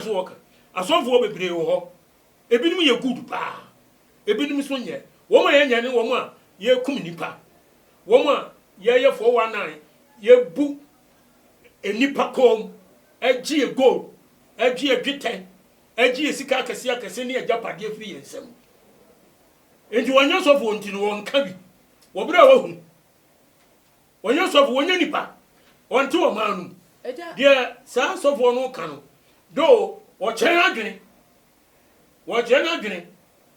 so wɔka. Asɔfo hɔ bebree wɔ hɔ. Ebinom yɛ good paa. Ebinom nso nyɛ. Wɔn a yɛnyɛ ne wɔn a yɛkum nnipa. Wɔn a yɛyɛ 419, yɛbu nnipa kɔn, gye yɛn gold, gye yɛn dwetɛ, gye yɛn sika akɛse akɛse ne agyapadeɛ firi yɛn nsam. Enti wɔnyɛ sɔfoɔ nti no wɔnka bi. Wɔ berɛ a wɔahu. Wɔnyɛ sɔfo, wɔnyɛ nipa, wɔnte ɔman no mu. Deɛ saa sɔfoɔ no ka no, though wɔkyerɛ n'adwene, wɔkyerɛ n'adwene,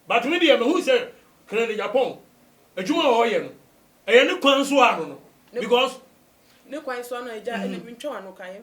but me deɛ mahu sɛ Helen Agyapong, adwuma a ɔreyɛ no, ɛyɛ ne kwan so ara no no, because. Ne kwan so ara no a, agya, ɛnna mentwa w'ano ka.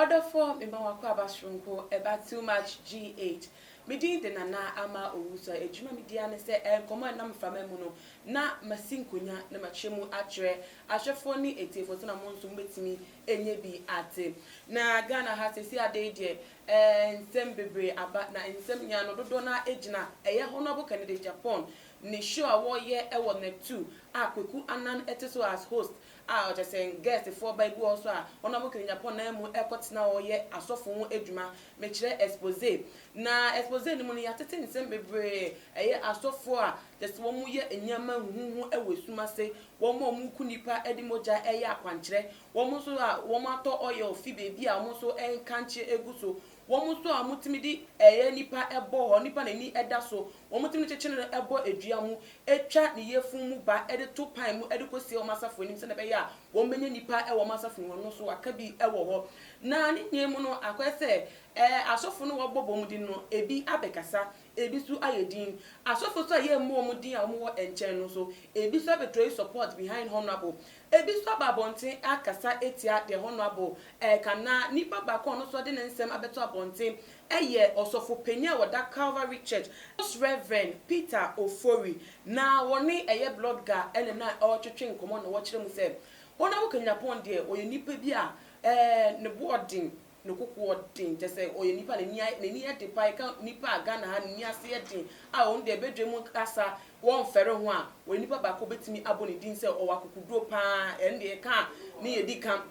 Ɔdɔfo mema w'akwaaba soronko ɛba too much GH. Me din de Nana Ama Owusu. Adwuma me di ara ne sɛ ɛyɛ nkɔmmɔ a ɛnam mframa mu no na masi nkonya na makyerɛ mu akyerɛ ahwɛfoɔ ne atiefoɔ sɛnea mo nso mobɛtumi anya bi ate. Na Ghana ha seesei adeɛ yi deɛ eh nsɛm bebree aba na nsɛm nyinaa no dodoɔ no ara gyina ɛyɛ Honourable Kennedy Agyapong ne show a wɔreyɛ wɔ Nɛt two a Kweku Annan te so as host a ɔkyerɛ sɛ Guestfoɔ ba ebi wɔ hɔ so a wɔn a wɔkɔ Nyankopɔn nan mu rekɔtena hɔ reyɛ asɔfo ho adwuma. Mekyerɛ expose. Na expose no mu no, yɛatete nsɛm bebree. Ɛyɛ asɔfoɔ a kyerɛ sɛ wɔyɛ nneɛma huhuuhu wɔ esum ase, wɔn a wɔku nnipa de mogya reyɛ akwankyerɛ, wɔn nso a wɔatɔ oil fi baabi a wɔn nso nkankye gu so, Wɔn nso a wɔtumi de ɛyɛ nipa bɔ hɔ, nipa n'ani da so, wɔtumi de kyekyere no bɔ dua mu, twa ne yafunu mu ba de to pan mu de kɔsie wɔn asafo anim sɛdeɛ ɛbɛyɛ a wɔbɛnya nipa wɔ wɔn asafo mu hɔ no nso aka bi wɔ hɔ. Na ne nyinaa mu no, akɔyɛ sɛ asɔfo no a wɔbɔ bɔ mu de no, ebi abɛkasa, Ebi so ayɛ din. Asɔfo so a yɛ mmɔ ɔmo din a ɔmo wɔ ɛnkyɛn no so. Ebi so abɛtɔyi support behind honourable. Ebi so aba abɔnten akasa atia deɛ honourable ɛɛka anaa nipa baako a ɔno so ɔde ne nsɛm abɛto abɔnten ɛyɛ ɔsɔfo panin a ɔda Calvary church, Most Rev. Peter Ofori na wɔne ɛyɛ blodga ɛna na ɔɔtwetwe nkɔmɔ na wɔkyerɛ mu sɛ honourable Kanyinapɔn deɛ ɔyɛ nipa bi a ɛɛ ne bo ɔden No kokoɔ den kyɛ sɛ ɔyɛ nipa n'ani ayɛ n'ani yɛ den paa yɛka nipa a Ghana ha ne ni ase yɛ den a ɔno deɛ badwa mu kasa wɔnfɛre ho a ɔyɛ nipa baako bɛtumi abɔ ne din sɛ ɔwɔ akokoduro paa ɛno deɛ yɛka a ne yɛ di ka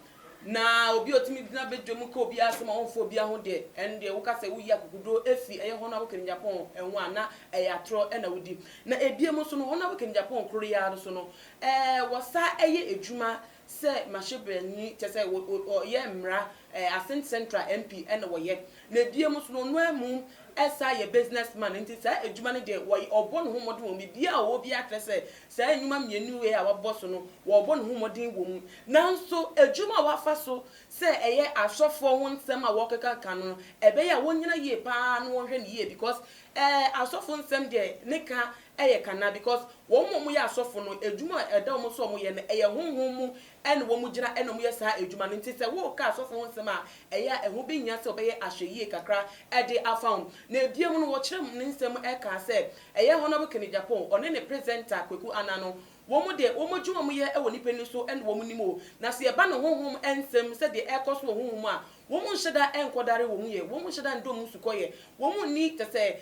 na obi a ɔtumi gyina badwa mu ka obiara asɛm a ɔnfa obiara ho deɛ ɛno deɛ woka sɛ woyi akokoduro ɛfiri ɛyɛ Honourable Kenny Agyapong ɛho a na ɛyɛ atorɔ ɛna wodi na ɛbiem nso no Honourable Kenny Agyapong koro yi ara nso no ɛɛ wɔsa ɛyɛ adwuma sɛ mahyɛbrani kyɛ sɛ ɔyɛ mmra ɛɛ Assin central MP ɛna wɔyɛ na ebiem nso no ɔno amu ɛsan yɛ business man nti saa adwuma no deɛ wɔyɛ ɔbɔ ne ho mmɔden wɔ mu biribiara a ɔwɔ biara kyerɛ sɛ saa nnwuma mmienu wei a wabɔ so no ɔrebɔ ne ho mmɔden wɔ mu nanso adwuma a wafa so sɛ ɛyɛ asɔfoɔ ho nsɛm a wɔrekekaka no ɛbɛyɛ a wɔnyina yie paa na wɔnhwɛ no yie because ɛɛ asɔfo nsɛm deɛ ne ka Ɛyɛ ka na because wɔn mu a wɔyɛ asɔfo no adwuma a ɛda wɔn so a wɔyɛ no ɛyɛ honhom mu ɛna wɔn gyina ɛna wɔyɛ saa adwuma no nti sɛ woreka asɔfo ho nsɛm a ɛyɛ a ɛho behia sɛ wɔbɛyɛ ahwɛyie kakra ɛde afa ho na ɛbiam no wɔkyerɛ ne nsɛm mu ɛkaa sɛ ɛyɛ Honourable Kenny Gyapong ɔne ne presenter Kweku Anah no Wɔn de, wɔn adwuma a wɔyɛ wɔ nnipa ani so na wɔnim o, na sɛ ɛba ne honhom nsɛm sɛ deɛ ɛrekɔ so wɔ honhom a, wɔn nhyɛ da nkɔdare wɔn yɛ, wɔn nhyɛ da ndɔ wɔn sukɔyɛ, wɔn nni kyɛ sɛ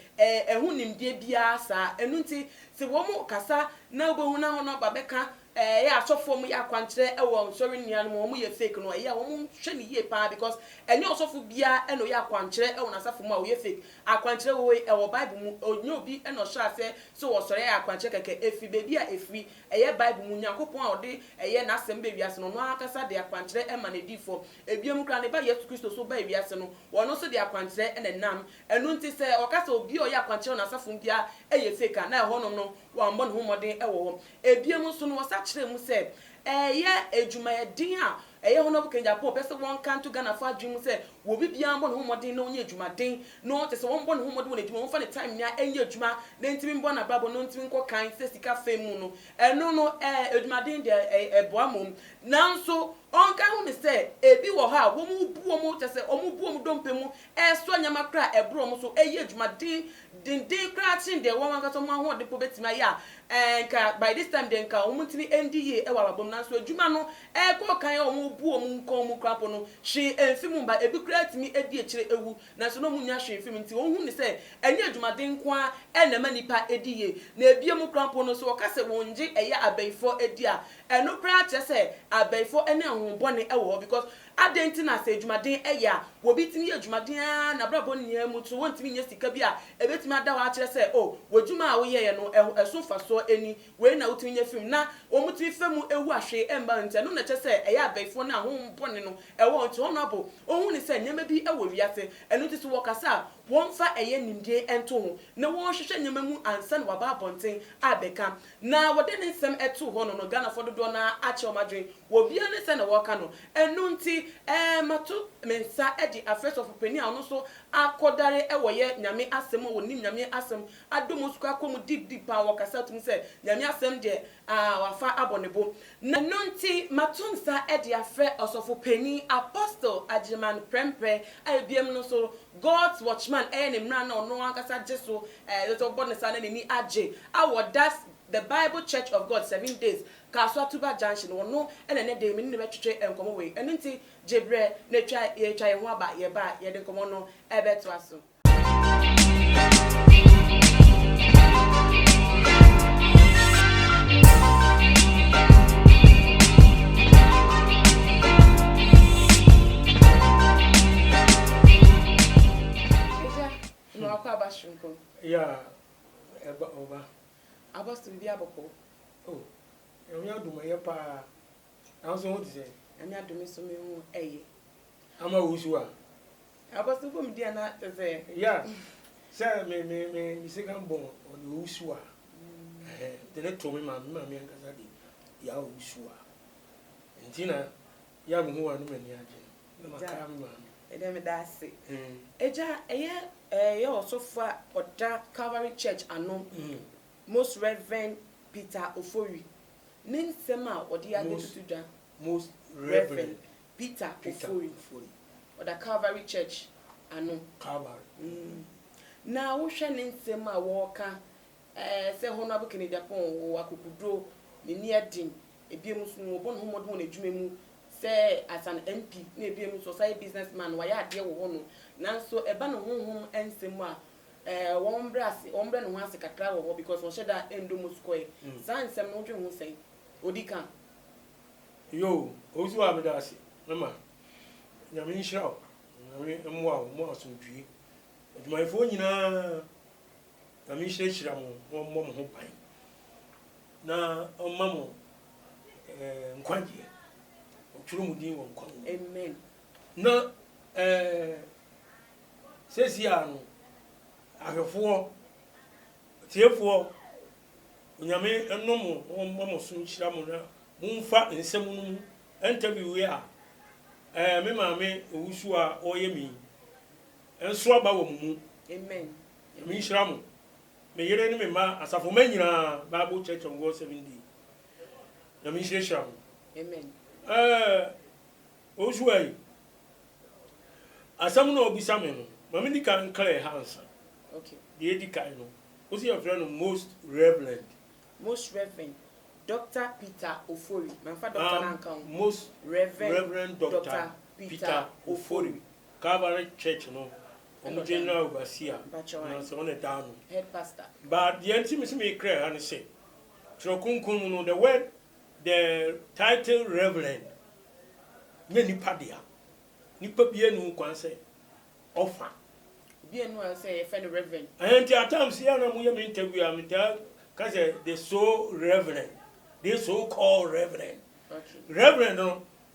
ɛho nimdeɛ biara saa. Ɛno nti, sɛ wɔkasa na wobɛhu na wɔn aba bɛka ɛyɛ asɔfoɔ a wɔyɛ akwankyerɛ wɔ nsɔre nnua no mu a wɔyɛ fake no, ɛyɛ a wɔhwɛ no yie pa ara because ɛnyɛ ɔsɔfo biara na ɔyɛ akwankyerɛ wɔ n'asafo mu a ɔyɛ fake. Akwankyerɛ wɔ hɔ yi, ɛwɔ Bible mu. Ɔnyɛ obi na ɔhyɛɛ aseɛ sɛ ɔsɔre ayɛ akwankyerɛ kɛkɛ. Ɛfiri baabi a ɛfiri. Ɛyɛ Bible mu. Nyankopɔn a ɔde ɛyɛ N'asɛm baa wiase no, Ɔno ara ankasa de akwankyerɛ ma N'adiyifoɔ. Ɛbiam koraa, Ne Ba Yesu Kristo nso baa wiase no, Ɔno nso de akwankyerɛ na ɛnam. Ɛno nti, sɛ wɔka sɛ obi a ɔyɛ akwankyerɛ wɔ N'asafo mu biara yɛ fake a, na ɛhɔnom no, wammɔ ne ho mmɔden wɔ hɔ. Ebia mu nso no, wɔsa kyerɛɛ mu sɛ ɛyɛ adwumayɛden a ɛyɛ Honourable Kennedy Apo a ɔpɛ sɛ wɔnka nto Ghanafo adwene mu sɛ wɔ obi biara mmɔ ne ho mmɔden na ɔnyɛ adwumaden na ɔte sɛ wɔmmɔ ne ho mmɔden wɔ n'adwuma mu, wɔmfa ne time nyinaa nyɛ adwuma na ntumi mmɔ n'abrabɔ na ɔntumi nkɔ kan sɛ sika fam mu no, ɛno no ɛɛ adwumaden deɛ ɛɛ ɛboa mmom. Nanso ɔnka ho ne sɛ ebi wɔ hɔ a wɔbu wɔn kyɛ sɛ wɔbu wɔn dompe mu resoa nneɛma koraa a ɛboro wɔn so, reyɛ adwuma den, denden koraa kyɛn deɛ wɔn ankasa wɔn ahoɔden mpo bɛtumi ayɛ a, ɛɛ, nka by this time deɛ nka wɔntumi ndi yie wɔ abrabɔ mu. Nanso adwuma no rekɔ kan a wɔbu wɔn nkɔn mu koraa mpo no, hwee mfi mu mma. Ebi koraa tumi di akyire wu, nanso na wɔnnya hwee mfi mu. Enti wɔhu no sɛ ɛnyɛ adwumaden nko ara na ɛma nnipa di yie. Na ebia mu koraa mpo no, sɛ wɔka sɛ wɔnnye ɛyɛ abayifoɔ di a, ɛno koraa kyerɛ sɛ abayifoɔ ne ahonhommɔne wɔ hɔ because Adɛn nti na sɛ adwumaden yɛ a, obi tumi yɛ adwumaden ara n'abrabɔ nyinaa mu nso wontumi nyɛ sika bi a ebetumi ada hɔ akyerɛ sɛ, O, w'adwuma a woyɛeɛ no, ɛho, ɛso mfasoɔ nni? Wei na wotumi nya fi mu. Na wɔtumi fa mu wu a hwee mma wɔn nti. Ɛno na ɛkyerɛ sɛ ɛyɛ abayifoɔ no a honhom bɔne no wɔ wɔn nti. Wɔn abo, wɔhu no sɛ nneɛma bi wɔ wiase, ɛno nti sɛ wɔkasa a, wɔmfa ɛyɛ nimdeɛ nto ho na wɔnhwehwɛ nneɛma mu ansa na wɔaba abɔnten abɛka. Na wɔde ne nsɛm too hɔ no no Ghanafoɔ dodoɔ no ara akyɛ wɔn adwene wɔ obiara ne sɛdeɛ wɔka no ɛno nti ɛɛ mato me nsa de afrɛ sɔfo panin a ɔno nso akɔdare wɔ yɛ Nyame asɛm mu a wɔnim Nyame asɛm adɔ mu ɔsukɔ akɔ mu deep deep paa wɔkasa ato mu sɛ Nyame asɛm deɛ aah wafa abɔ ne bo na ɛno nti mato nsa de afrɛ ɔsɔfo panin Apostle Agyiriman Prɛmprɛ a ɛbiam no nso God's Watchman yɛ ne mmara no a ɔno ankasa gye so, ɛsɛ sɛ ɔbɔ ne saa na n'ani agye, a wɔ Das, The Bible Church of God, Seven Days, Kasoa Tuba Junction, wɔno na ɛnnɛ da yi me ne no bɛtwetwe nkɔmmɔ wei. Ɛno nti gye berɛ na twa, yɛretwa yɛn ho aba, yɛba a, yɛde nkɔmmɔ no bɛtoa so. Agya, na wakɔ aba soronko. Ya, ɛba, ɔba. Aba so biribi abɔkɔ. O, Nyame adom ɛyɛ paa. Nanso ho te sɛ. Nyame adom me so me ho ɛyɛ. Ama wo so a. Aba so bɔ me di a na te sɛ. Ya, sɛ me, me, me, me second born ɔde owu so a. Ɛhɛn, de ne to me maame, me maame ankasa de, ya owu so a. Nti na, Yɛ a me ho a na m'ani agye no, na makae me maame. Ɛdeɛ meda ase. Agya, ɛyɛ yɛ ɔsɔfo a ɔda Calvary Church ano, Most Reverend Peter Ofori, ne nsɛm a ɔde abɛtutu dwa. Most Reverend Peter Ofori, ɔda Calvary Church ano. Calvary. Na wohwɛ ne nsɛm a ɔreka Ɛɛ sɛ Honourable Kenedy Apoh wɔ akokoduro, n'ani ɛden, ebiom nso no ɔbɔ ne ho mmɔden wɔ n'adwuma mu sɛ as an MP na ebiom nso ɔsan yɛ business man, wayɛ adeɛ wɔ hɔ nom, nanso ɛba ne honhom nsɛm mu a, ɛɛ wɔn mbrɛ ase, wɔn mbrɛ ne ho ase kakra wɔ hɔ because ɔnhyɛ da ndɔ Moses Kɔyɛ. Saa nsɛm no wo dwen ho sɛn? Odi ka. Yoo, Owusuaa meda wo ase, me ma. Nyame nhyira wo, Nyame mmoa wo, mmoa asomdwie. Adwumayɛfoɔ nyinaa. Nyame nhyirahyira mo na ɔmmɔ mo ho ban na ɔmma mo eh, nkwagyeɛ ɔtwerɛ mu din wɔ nkwa mu Amen. na eh, sɛsi a no ahwɛfoɔ tiefoɔ onyame ɛnɔ mo na ɔmma mo so nhyira mo na momfa nsɛm no mu interview yi a eh, me maame owusu a ɔyɛ mi nso aba wɔ mo mu Amen. Nyame nhyira mo. Me yere ne me mma asafo mma nyinaa bible church of God seven day Nyame nhyira hyira mo. Amen. Eh, Osua yi, asɛm no a ɔbisa me no, ma me di kan nklɛɛ ha ansa. Okay. Deɛ edi kan no, wosi yɛfrɛ no most reverend. Most reverend Dr. Peter Ofori. Mamfa doctor um, no anka ho. Most reverend, reverend Dr. Dr. Peter, Peter Ofori. Calvary Church no, Wɔn general overseer na sɛ ɔna daa no. Head pastor. But deɛ nti me se me kra ha ne sɛ twerɛ kronkron mu no the word the title reverend nyɛ nipa dea. Nipa bia nni ho kwan sɛ ɔfa. Obi anni ho kwan sɛ yɛfrɛ no reverend. Ɛhɛn nti at times yɛ a na mo yɛ me interview a me taa ka sɛ the so reverend, this so called reverend. Okay. Reverend no.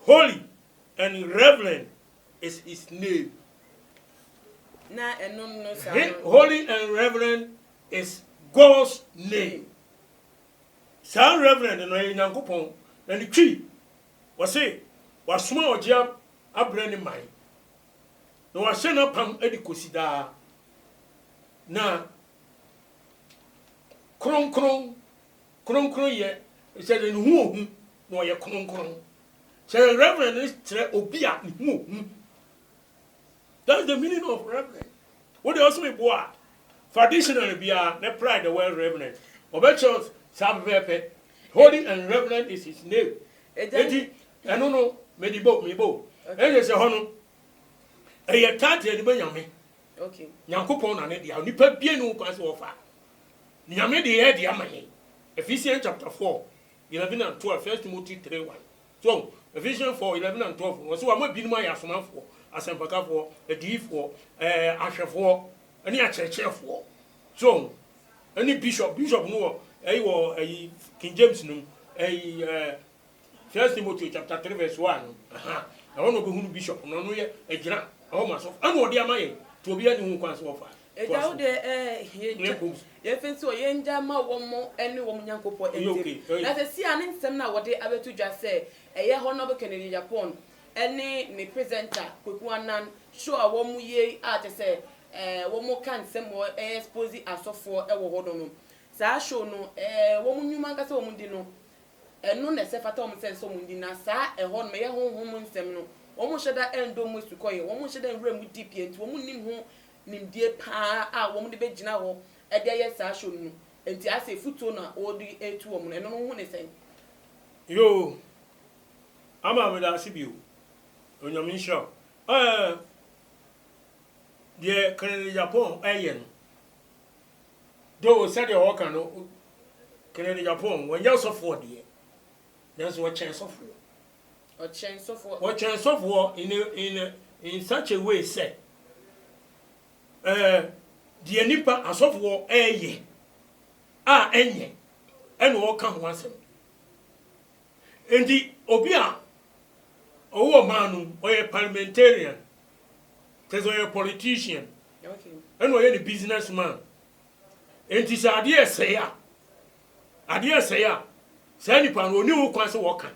Holy and reverend is his name. Na ɛno no saa no. Holy and reverend is God's name. Saa reverend no ɛyɛ Nyankopɔn na ne twi. Wɔse wasoma ɔgye abrɛ ne man na wahyɛ n'apam de kosi daa. Na kronkron, kronkronyɛ, kyerɛ sɛ ne ho ohu na ɔyɛ kronkron. Kyerɛ Reverend no kyerɛ obi a ne ho hu. That's the meaning of Reverend. Wo deɛ ɔsom ebo a, fa dictionary biara na pry the word Reverend. Ɔbɛkyerɛ wo saa pɛpɛɛpɛ. Holy and Reverend is his name. Enti ɛno no, mede bo, me bo. Ɛnyɛ sɛ hɔ no, ɛyɛ title de ma Nyame. Nyankopɔn na ne dea. Onipa bie ne ho kwan sɛ ɔfa. Nyame deɛ yɛ de ama yɛn. Ephesians chapter four. 11 and 12, First Timothy three one. So ɔho? Ephesians four eleven and twelve no, ɔse wama binom ayɛ asomafoɔ, asɛmpakafoɔ, adiyifoɔ, ɛɛ ahwɛfoɔ, ɛne akyerɛkyerɛfoɔ. So ɔho? Ɛne bishop, bishop no wɔ ɛyi wɔ ɛyi King James no mu, ɛyi ɛɛ First Timothy chapter three verse one no, aha, ɛhɔ na ɔbɛhunu bishop no, ɔno yɛ ɛgyina ɛhɔ ma sɔfo, ɛna ɔde ama yɛn, nti obiara ni ho kwan sɛ ɔfa. Agya wo deɛ eh, yɛn gya, yɛn fɛ nso yɛn gya ma wɔn ne wɔn Nyankopɔn ntam. Na sɛsi ara ne nsɛm no a wɔde abɛto dwa sɛ ɛyɛ Honourable Kennedy Agyapong ne ne presenter Kweku Annan show a wɔyɛ yi a kyerɛ sɛ eh, wɔka nsɛm wɔ eh, expose asɔfoɔ wɔ hɔ no no. Saa show no eh, wɔn nnwuma ankasa a wɔdi no, ɛno na ɛsɛ fata wɔn sɛ ɛsɛ sɛ wɔn di. Na saa ɛhɔ nom, ɛyɛ honhom nsɛm no, wɔn nhyɛ da nnɔ mu asukɔeɛ, wɔn nhyɛ da nwura mu deep yɛ nti wɔn nnim ho nimdeɛ paa a wɔn de bɛgyina hɔ de ayɛ saa show no no nti ayɛ sɛ afutuo na ɔde retu wɔn no, ɛno no wo ho ne sɛn? Yoo Ama medaase bio Onyame nhyira wo eh Deɛ Kenene Japan ɛyɛ no though sɛdeɛ wɔka no Kenene Japan wanyɛ ɔsɔfoɔ deɛ nanso ɔkyɛn sɔfoɔ. Ɔkyerɛn sɔfoɔ. Ɔkyerɛn sɔfoɔ in a in a in such a way sɛ ɛɛ deɛ nipa asɔfoɔ ɛɛyɛ a ɛnyɛ ɛna ɔɔka ho asɛm. Nti obi a ɔwɔ ɔman no mu ɔyɛ parliamentarian kyerɛ sɛ ɔyɛ politician Okay. ɛna ɔyɛ ne business man. Nti sɛ adeɛ ɛsɛe a Adeɛ sɛe a, saa nipa no ɔni ho kwan sɛ wɔka.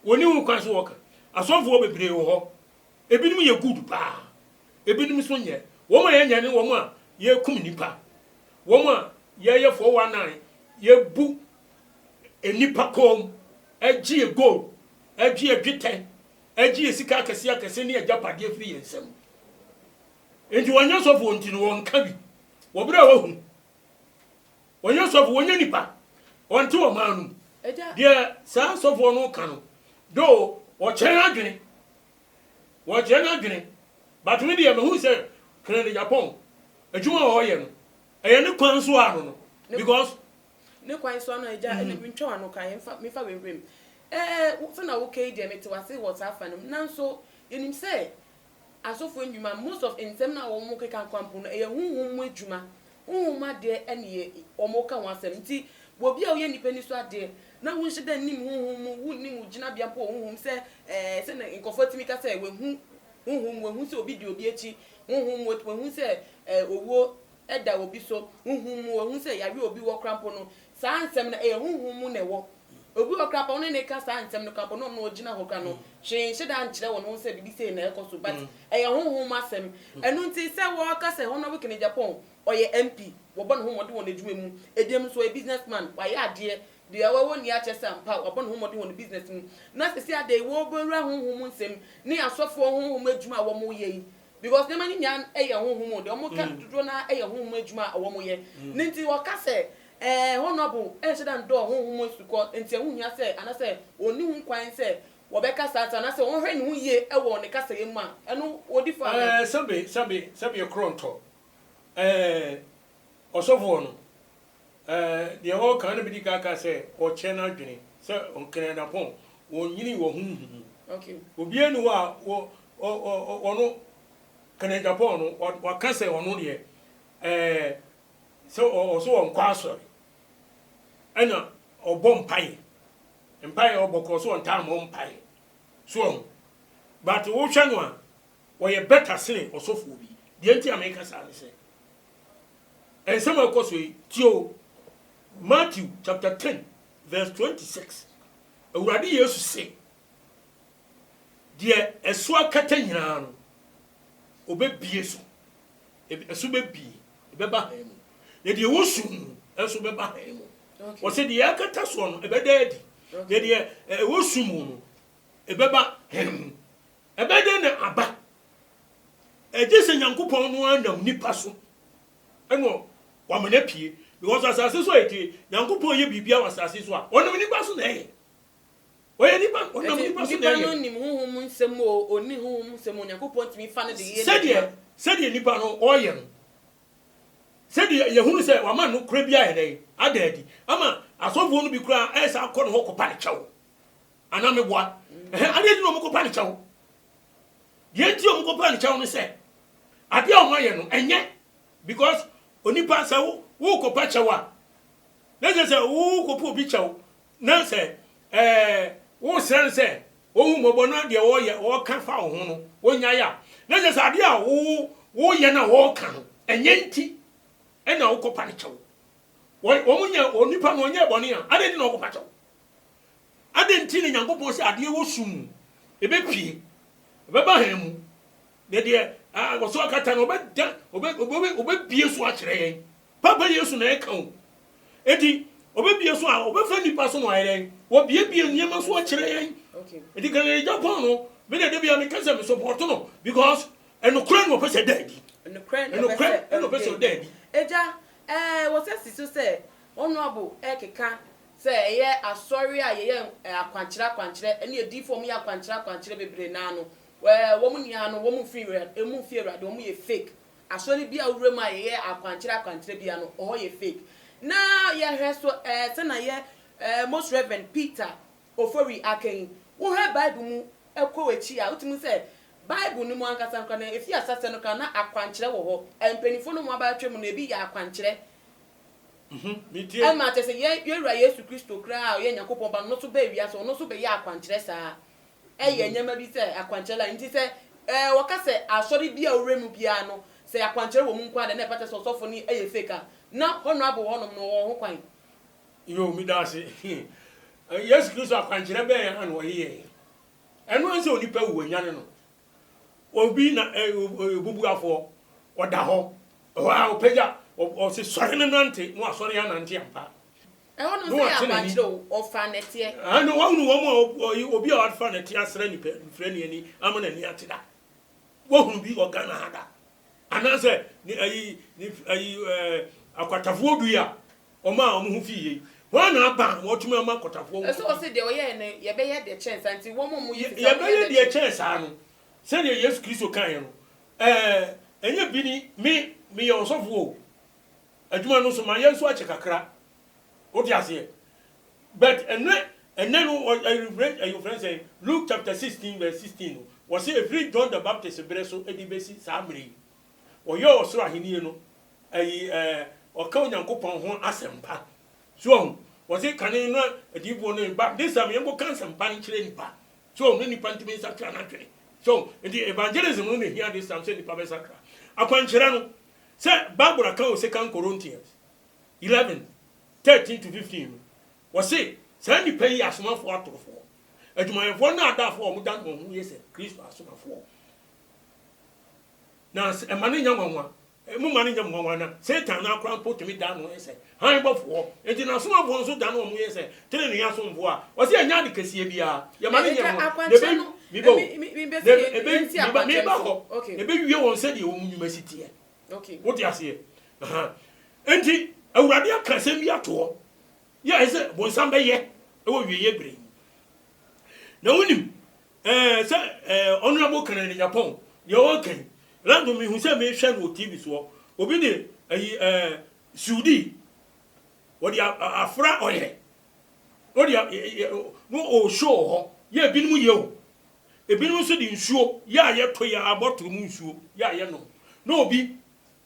Wɔni ho kwan sɛ wɔka. Asɔfoɔ bebree wɔ hɔ. Ebinom yɛ good paa. Ebinom nso nyɛ. Wɔn a yɛnyɛ ne wɔn a yɛkum nipa. Wɔn a yɛyɛ 419, yɛbu nnipa kɔn mu, ɛgyeɛ gold, ɛgyeɛ dwetɛ, ɛgyeɛ sika akɛse akɛse ne agyapadeɛ firi yɛn nsam. Nti wɔnyɛ sɔfoɔ nti no wɔnka bi. Wɔbrɛ a wɔahu. Wɔnyɛ sɔfo, wɔnyɛ nnipa. Wɔnte ɔman no mu. Deɛ saa sɔfoɔ no ka no, though wɔkyerɛ n'adwene, wɔkyerɛ n'adwene, but me deɛ mahu sɛ Hon. Adegyapong, adwuma a ɔreyɛ no, ɛyɛ ne kwan so ara no no, because. Ne kwan so ara no, agya, ɛnna mentwa w'ano ka, yɛmfa, memfa w'awuram. Ɛɛ, sɛdeɛ woka yi deɛ, mete wo ase wɔ saa fa no mu, nanso yɛnim sɛ Asɔfo ndwuma, most of nsɛm no a wɔn keka kwa mpo no ɛyɛ honhom mu adwuma, honhom mu adeɛ ɛne yɛ wɔn ka ho asɛm. Nti wɔ bi a woyɛ nnipa ani so adeɛ na wo nhyɛ da nnim honhom mu, wo nnim wo gyinabea mpo wɔ honhom mu sɛ ɛɛ sɛdeɛ nkorɔfoɔ tumi ka sɛ wahu honhom mu, wahu sɛ obi di obi akyi honhom mu, wahu sɛ ɛɛ owuo ɛda obi so honhom mu, wahu sɛ yareɛ obi wɔ koraa mpo no Saa nsɛm no, ɛyɛ honhom mu na ɛwɔ. Obi wɔ hɔ koraa, wɔn ne no reka saa nsɛm no koraa, wɔn a wɔn na wɔgyina hɔ koraa no, hwee nhyɛ da nkyerɛ wɔn ho sɛ biribi sei na ɛrekɔ so, but ɛyɛ honhom mu asɛm. Ɛno nti, sɛ wɔka sɛ Honorable Ken Agyapong, ɔyɛ MP, wɔbɔ ne ho mmɔden wɔ n'adwuma mu, ɛbinom nso ɔyɛ businessman, wayɛ adeɛ, deɛ wawɔ nie akyerɛ sɛ ampa wabɔ ne ho mmɔden wɔ ne business mu, na seesei adɛn, wɔrebɛwura honhom mu nsɛm ne asɔfoɔ honhom adwuma a wɔreyɛ yi, Because nneɛma no nyinaa yɛ honhom o, deɛ wɔn ka dodoɔ no ara yɛ honhom adwuma a wɔn yɛ, ne nti wɔka sɛ ɛɛ honourable ɛnhyɛ da ndɔɔ honhom asukɔ nti ɛho hia sɛ anasɛ ɔnni ho kwan sɛ wɔbɛka saa ata anasɛ ɔnhwɛ ne ho yie ɛwɔ ne kasa yɛ mu a ɛno ɔdi fɔ anaa. Ɛɛ sɛbe sɛbe sɛbe ɛkorɔntɔ ɛɛ ɔsɔfoɔ no Ɛɛ, deɛ ɔreka no bɛdi kan aka sɛ ɔkyɛ n'adwene, sɛ Nkenɛnapɔn, ɔnyini wɔ honhom mu. Obiara nni hɔ a wɔ, ɔ, ɔ, ɔ, ɔno, Kenɛnapɔn no, wa, waka sɛ ɔno deɛ, ɛɛ, sɛ ɔ, ɔ, sɛ ɔnkɔ asɔre, ɛna ɔbɔ mpaeɛ, mpaeɛ a ɔbɔ korɔ sɛ ɔntaa mmɔ mpaeɛ. So wahu? But wohwɛ no a, ɔyɛ better sene ɔsɔfoɔ bi. Deɛ nti a meka saa ne sɛ. nsɛm a ɛkɔ so yi, tie o. Matthew chapter ten verse twenty six, Awurade Yesu se, deɛ ɛso akata nyinaa no, obɛbie so, ɛso bɛbie, ɛbɛba hann mu, na deɛ ɛwɔ sum mu nso bɛba hann mu. Ɔsɛ deɛ akata soɔ no, ɛbɛda adi, na deɛ ɛwɔ sum mu no, ɛbɛba hann mu. Ɛbɛdɛn na aba? Egye sɛ Nyankopɔn no ara nam nipa so na wama no apue. Because asase so ayɛ tire. Nyankopɔn yɛ biribiara wɔ asase so a, ɔnam nipa so na ɛyɛ. Ɔyɛ nipa, ɔnam Ɛnti, nipa so na nipa no ɛyɛ. nim honhom mu nsɛm o, ɔnni honhom mu nsɛm o, Nyankopɔn tumi fa no de yɛ Sɛdeɛ, n'adwuma. sɛdeɛ nipa no ɔreyɛ no, sɛdeɛ yɛhunu sɛ wama nokorɛ bi ayɛ dɛn? Ada adi. Ama asɔfoɔ no bi koraa ɛyɛ saa kɔ ne hɔ kɔpa no kyɛw. Anaa meboa? Ɛhɛ, adeɛ nti na wɔkɔpa ne kyɛw. Deɛ nti a wɔkɔpa ne kyɛw ne sɛ, adeɛ a wɔayɛ no, ɛnyɛ. Because onipa, sɛ wo, worekɔpa kyɛw a, na kyerɛ sɛ worekɔpa obi kyɛw, na sɛ ɛɛ, woresrɛ no sɛ ɔhu mmɔbɔ na deɛ ɔreyɛ, ɔreka fa wo ho no, ɔnyae a, na kyerɛ sɛ adeɛ a wo, woreyɛ no a ɔreka no, ɛnyɛ nti na wokɔpa ne kyɛw. Wɔ, wɔnyɛ, onipa no, ɔnyɛɛ bɔne a, adeɛ nti na wɔkɔpa kyɛw? Adɛn nti na Nyankopɔn sɛ adeɛ wɔ sum mu, ɛbɛpue, ɛbɛba hann mu, na deɛ wɔ so akata no, ɔbɛda, ɔbɛbie so akyerɛ yɛn? Papa Yesu na ɛka o. Enti, ɔbɛbie so a, ɔbɛfa nnipa so na ɔayɛ dɛn? Wɔbiebie nneɛma so akyerɛ yɛn. Enti Kennedy Agyapong no, me deɛ da biara meka sɛ me support no because ɛnokorɛ na ɔpɛ sɛ ɛda adi. Ɛnokorɛ na ɔpɛ sɛ ɔda adi. Agya, ɛɛ, wɔ sɛ si so sɛ Honourable ɛrekeka Sɛ ɛyɛ asɔre a yɛyɛ akwankyerɛ akwankyerɛ ɛne adiifo a wɔyɛ akwankyerɛ akwankyerɛ bebree naa no ɛɛ wɔn nyinaa no wɔn mfi wɔn mfi awurade wɔn yɛ fake asɔre bi a wowura mu a yɛyɛ akwankyerɛ akwankyerɛ bia no ɛhɔ yɛ fake na yɛhwɛ so ɛɛ sɛna yɛ ɛɛ most reverend Peter Ofori aka yi wohwɛ bible mu ɛkɔ akyi a wotumi sɛ bible no mu ankasa nkora na efi asasɛ no kora na akwankyerɛ wɔ hɔ mpanyinfoɔ no wɔn abatwɛ mu no ebi yɛ akwankyerɛ Ɛma kyerɛ sɛ yɛn Wura Yesu Kristo koraa a ɔyɛ Nyankopɔn Ba no, ɔno nso baa wiase, ɔno nso bɛyɛɛ akwankyerɛ saa. Ɛyɛ nneɛma bi sɛ akwankyerɛ la nti sɛ wɔka sɛ asɔre bi a ɔwura mu biara no, sɛ akwankyerɛ wɔ mu nko ara deɛ na ɛfata sɛ ɔsɔfo no yɛ fake a, na honourable hɔnom no wɔwɔ ho kwan. Yoo, meda ase. Yesu Kristo akwankyerɛ bɛn ara na ɔyɛɛ? Ɛno ara ne sɛ onipa wu, wɔanyane no. Obi na ɛ, ɔ, ɔyɛ obubuafoɔ, ɔda hɔ, ɛhɔ ara ɔpagya, ɔ, ɔse, Sɔre na nante, na wasɔre anante ampa. Ɛhɔ nom sɛ yɛ akwankyerɛ o, ɔfa nɛteɛ. Ɛnde wahunu wɔn a ɔb, ɔ, ɔyi, obi a wafa nɛteɛ asra nipa, nfira ne ani, ama n'ani ate da? Wahunu bi wɔ Ghana ha da? Anaasɛ, ne, ayi, ne, ayi, ɛ, akwatafoɔ dui a, Wɔn a wɔn ho fi yie. Hwan na aba a wɔatumi ama akwatafoɔ ho fi yie? Ɛsɛ ɔse deɛ ɔyɛɛ no yɛbɛyɛ deɛ kyɛn saa nti wɔn a wɔyi sika no yɛbɛyɛ deɛ kyɛn. Yɛbɛyɛ deɛ kyɛn saa no sɛdeɛ Yesu Kristo kaeɛ no ɛɛ ɛnyɛ bi ni me meyɛ ɔsɔfoɔ o adwuma no nso mayɛ nso akyɛ kakra wote aseɛ but ɛnɛ ɛnɛ no ɛyɛ ofrɛ sɛ Luke chapter sixteen verse sixteen no wɔse efiri John the Baptist berɛ so ɛde bɛsi saa mmerɛ yi Wɔyɛ ɔsoro ahenni no, ɛyi ɛɛ, ɔka Onyankopɔn ho asɛmpa. So wɔn? Wɔsi kane na adiyifoɔ no reba, ne sɛ yɛn kɔ ka asɛmpa no kyerɛ nnipa. So wɔn? Ne nnipa ntumi nsakra n'adwene. So wɔn? Nti evangelism no na ehia this time sɛ nnipa bɛ sakra. Akwankyerɛ no, sɛ Bible aka wɔ Second Corinthians eleven, thirteen to fifteen no, wɔsi saa nnipa yi yɛ asomafoɔ atorofoɔ, adwumayɛfoɔ nnaadaafoɔ a wɔn dane wɔn ho yɛ sɛ Kristo asomafoɔ. Na mma no nyɛ nwanwa. Momma no nyɛ mo nwanwa na Satan no ara koraa mpo tumi dan ne ho yɛ sɛ hann bɔfoɔ. Enti n'asomafoɔ nso dan wɔn ho yɛ sɛ tenenee asomfoɔ a ɔse ɛnyɛ ade kɛseɛ biara. Yɛma no nyɛ nwanwa. Na ɛbɛ, meba o, na ɛbɛ, meba, meba hɔ. Ɛbɛwie wɔn sɛdeɛ wɔn nnwuma si teɛ. Wote aseɛ? Aha. Enti, Awurade aka asɛm bi ato hɔ. Yɛ ɛsɛ sɛ bonsam bɛyɛ wɔ awieeɛ berɛ yi. Na wonim, Eh sɛ eh honourable Kennedy Nyapɔn deɛ ɔɔka yi Lando mehu sɛ mehwɛ no wɔ TV soɔ obi de ayi eh suudi wɔde a a afra ɔyɛ no de a yɛ yɛ no ɔɔ show wɔ hɔ yɛ ebinom yɛ o ebinom nso de nsuo yɛ a yɛto yɛ a bottle mu nsuo yɛ a yɛnom na obi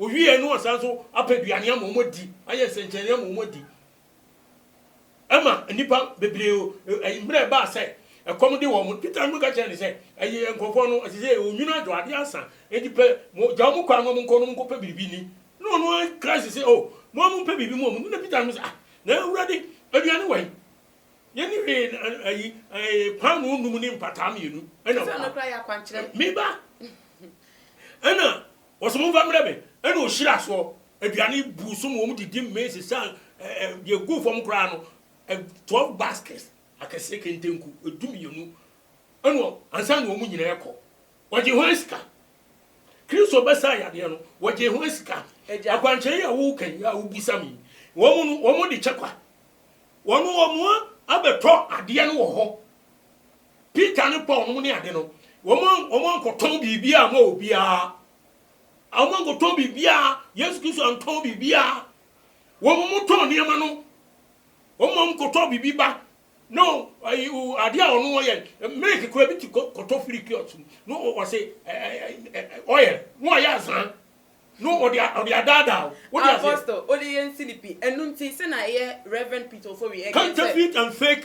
Wɔwieeɛ no wɔsan nso apɛ aduane ama wɔn adi, ayɛ nsɛnkyerɛnne ama wɔn adi. Ɛma nnipa bebree, ɛyi mmerɛ ɛbaa sɛ ɛkɔm de wɔn. Peter nso ka kyerɛɛ no sɛ, Ɛyi nkurɔfoɔ no, ɛsɛ sɛ yɛyɛ onwunu adwadeɛ ansa, enti pɛ, mo, gya wɔn kwan ma wɔnkɔ na wɔnkɔpɛ biribi nni. Na ɔno ara Christ se, O, mo ara mompɛ biribi ma wɔn nni. Na Peter nso se, Ah, na Awurade, aduane wɛn? Yɛnni hwee, na, ayi, ɛɛ, paanoo nnum ne mpataa mmienu na wɔwɔ ha. Me ba! Ɛnna Wɔse momfa mmerɛ me, ɛna ɔhyiraa soɔ, aduane buu so ma wɔn didi mee sesaa deɛ ɛguu fam koraa no, twelve baskets akɛseɛ kente nku du mmienu, ɛna ansa na wɔn nyinaa rekɔ, wɔgyee hwan sika? Kristo bɛsaa yadeɛ no, wɔgyee hwan sika? Akwankyerɛ yi a woreka yi a wobisa me yi, wɔn no, wɔn de kyɛ kwa, wɔn wɔn abɛtɔ adeɛ no wɔ hɔ. Peter ne Paul nom ne ade no, wɔankɔtɔn biribiara ama obiara. Wɔankɔtɔn biribiara. Yesu Kristo antɔn biribiara. Wɔn mo tɔn nneɛma no. Wɔn ma wɔn kɔtɔ biribi ba. No, ade a ɔno wɔyɛ, milk kura bi ti kɔtɔ firi kiosk mu. No, ɔse oil, no ɔyɛ azan. No, ɔde ɔde adaadaa. Wode ase? Apostle, ɔde yɛn silipi. Ɛno nti, sɛ na ɛyɛ Rev. Peter Ofori, ɛka sɛ. Counterfeit and fake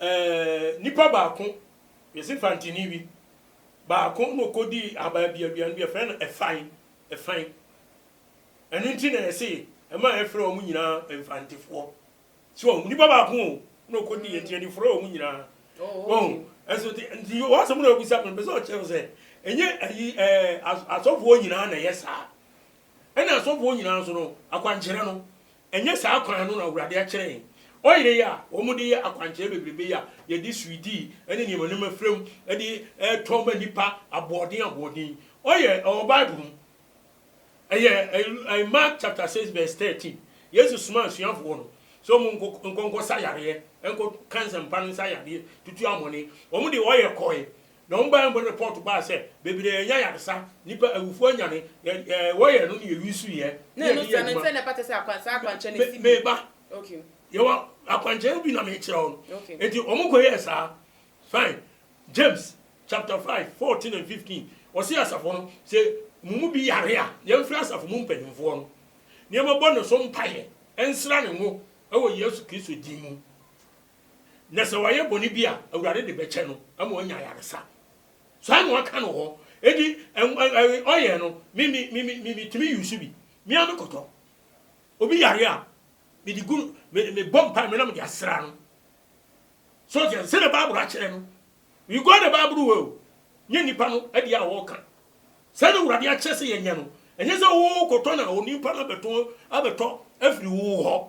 Eeh nipa baako yɛse fantini bi baako na ɔkɔdii ahaban bi aduane bi yɛfrɛ no ɛfan ɛfan ɛno nti na yɛse ɛma yɛfrɛ wɔn nyinaa mfantefoɔ so wɔn nipa baako o na ɔkɔdii nti yɛde frɛ wɔn nyinaa wɔn ɛso te nti wɔ asɛm na ɔbisa me mpɛ sɛ ɔkyerɛ sɛ ɛnyɛ ayi ɛɛ asɔfoɔ nyinaa na ɛyɛ saa Ɛna asɔfoɔ nyinaa nso no, akwankyerɛ no, ɛnyɛ saa kwan no na Awurade akyerɛ yɛn. Ɔyere yi a wɔde yɛ akwankyerɛ bebrebe yi a yɛde sweeti ne nneɛma nneɛma fra mu de retɔ ma nnipa aboɔden aboɔden yi, ɔyɛ, ɛwɔ Bible mu. Ɛyɛ ɛ, Mark chapter six verse thirteen. Yesu somaa asuafoɔ no sɛ wɔn nkɔ nkɔ nkɔsa yareɛ, nkɔka nsɛmpa no nsa yadeɛ, tutu amɔne. Wɔn deɛ wɔyɛ kɔe, Na wɔn Bible report baa sɛ bebree anya ayaresa, nnipa awufo anyane, yɛ yɛ wɔyɛ ɛno na yɛwi so yɛ na yɛde yɛ adwuma. Na ɛno nti ano nsɛm na ɛfata sɛ akwan saa akwankyerɛ no si bi. Me ba, yɛwɔ akwankyerɛ no bi na mekyerɛ wo no. Enti wɔn kɔ yɛɛ saa. Fine. James chapter five fourteen and fifteen ɔse asafo no sɛ mo mu bi yare a yɛmfrɛ asafo mu mpanyinfoɔ no na yɛmɛbɔ ne so mpaeɛ nsra ne ngo ɛwɔ Yesu Kristo din mu. Na sɛ wayɛ bɔne bi a, Awurade de bɛkyɛ no ama wanya ayaresa. Saa na wɔaka no hɔ. Enti ɔyɛ no, me me me me me tumi yusu bi. Me ara me kɔtɔ. Obi yare a, me de gu me me bɔ mpa me na me de asra no. So sɛ sɛ na Bible akyerɛ no, we go the Bible way o. Nye nipa no adi a wɔka. Sɛ na Awurade akyerɛ sɛ yɛnyɛ no. Ɛnyɛ sɛ wo kɔtɔ na onipa no abɛtɔ abɛtɔ afiri wo hɔ.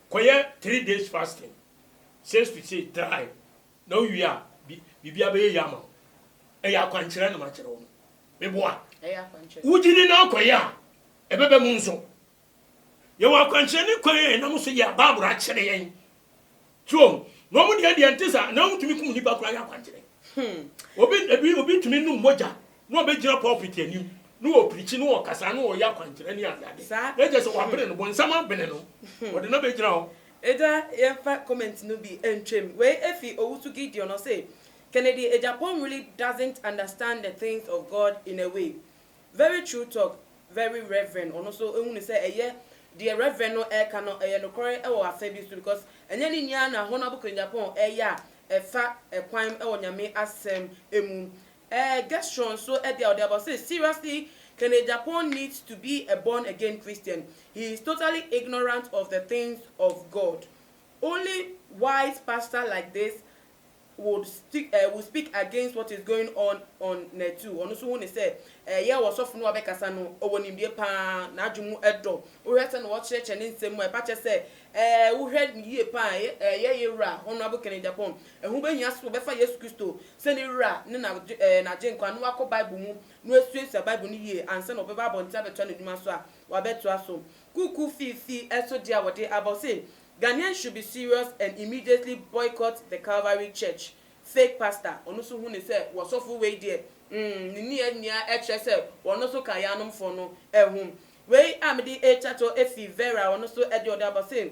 Kɔyɛ three days fasting says to say try na wowie a biribiara bɛyɛ yie ama wo. Ɛyɛ akwankyerɛ na makyerɛ wo no. Meboa? Wogye di na wokɔyɛ a ɛbɛba mu nso. Yɛwɔ akwankyerɛ ne kwan a yɛnam so yɛ a Bible akyerɛ yɛn. So wɔn deɛ deɛ ɛnte saa. Anaa wotumi kum nnipa koraa yɛ akwankyerɛ. Obi obi tumi nom mogya na ɔbɛgyina pulpit anim na ɔpirikyi na ɔkasa na ɔyɛ akwankyerɛ ne adeade na ɛkyɛ sɛ wabene no, bonsam abene no, ɔde no abɛgyina hɔ. Agya yɛmfa comment no bi ntwam. Wei ɛfiri Owusu Gideon ɔse, Kennedy Agyapong really doesn't understand the things of God in a way. Very true talk, very reverend ɔno nso hunu sɛ ɛyɛ deɛ reverend no ɛreka no ɛyɛ nokorɛ wɔ afa bi so because ɛnyɛ ne nyinaa na Honourable Kennedy Agyapong ɛyɛ a ɛfa ɛkwan wɔ Nyame asɛm mu Eh Gesrɔ nso ɛdeɛ a ɔde aba ɔse seriously can a Japon need to be a born again Christian he is totally ignorant of the things of God only wise pastor like this would stick eh would speak against what is going on on netu ɔno nso hu ne sɛ eh yɛ ɔsɔfo no a ɔbɛkasa no ɔwɔ nimdie paa n'adwene mu ɛdɔ wohwɛ sɛ na ɔkyerɛkyerɛ ne nsɛm mu a ɛpa kyɛ sɛ eh wohwɛ no yie paa eh yɛ yewura Honourable can a Japon ɛho bɛhia sɛ ɔbɛfa Yesu Kristo sɛ ne Wura ne n'Agyenkwa no akɔ Bible mu no asuasua Bible no yie ansa na ɔbɛba abɔnten abɛtoa n'adwuma so a, wabɛtoa so. Kuukuu fiifi so deɛ a wɔde aba hɔ se, Ghanaians should be serious and immediately boycott the Calvary Church fake pastor, ɔno nso hu no sɛ w'ɔsɔfo wei deɛ mm ne nni ani a ɛkyerɛ sɛ wɔn nso ka yɛanomfoɔ no ho. Wei a mede rekyɛ to fi Vera a ɔno nso deɛ ɔde aba se,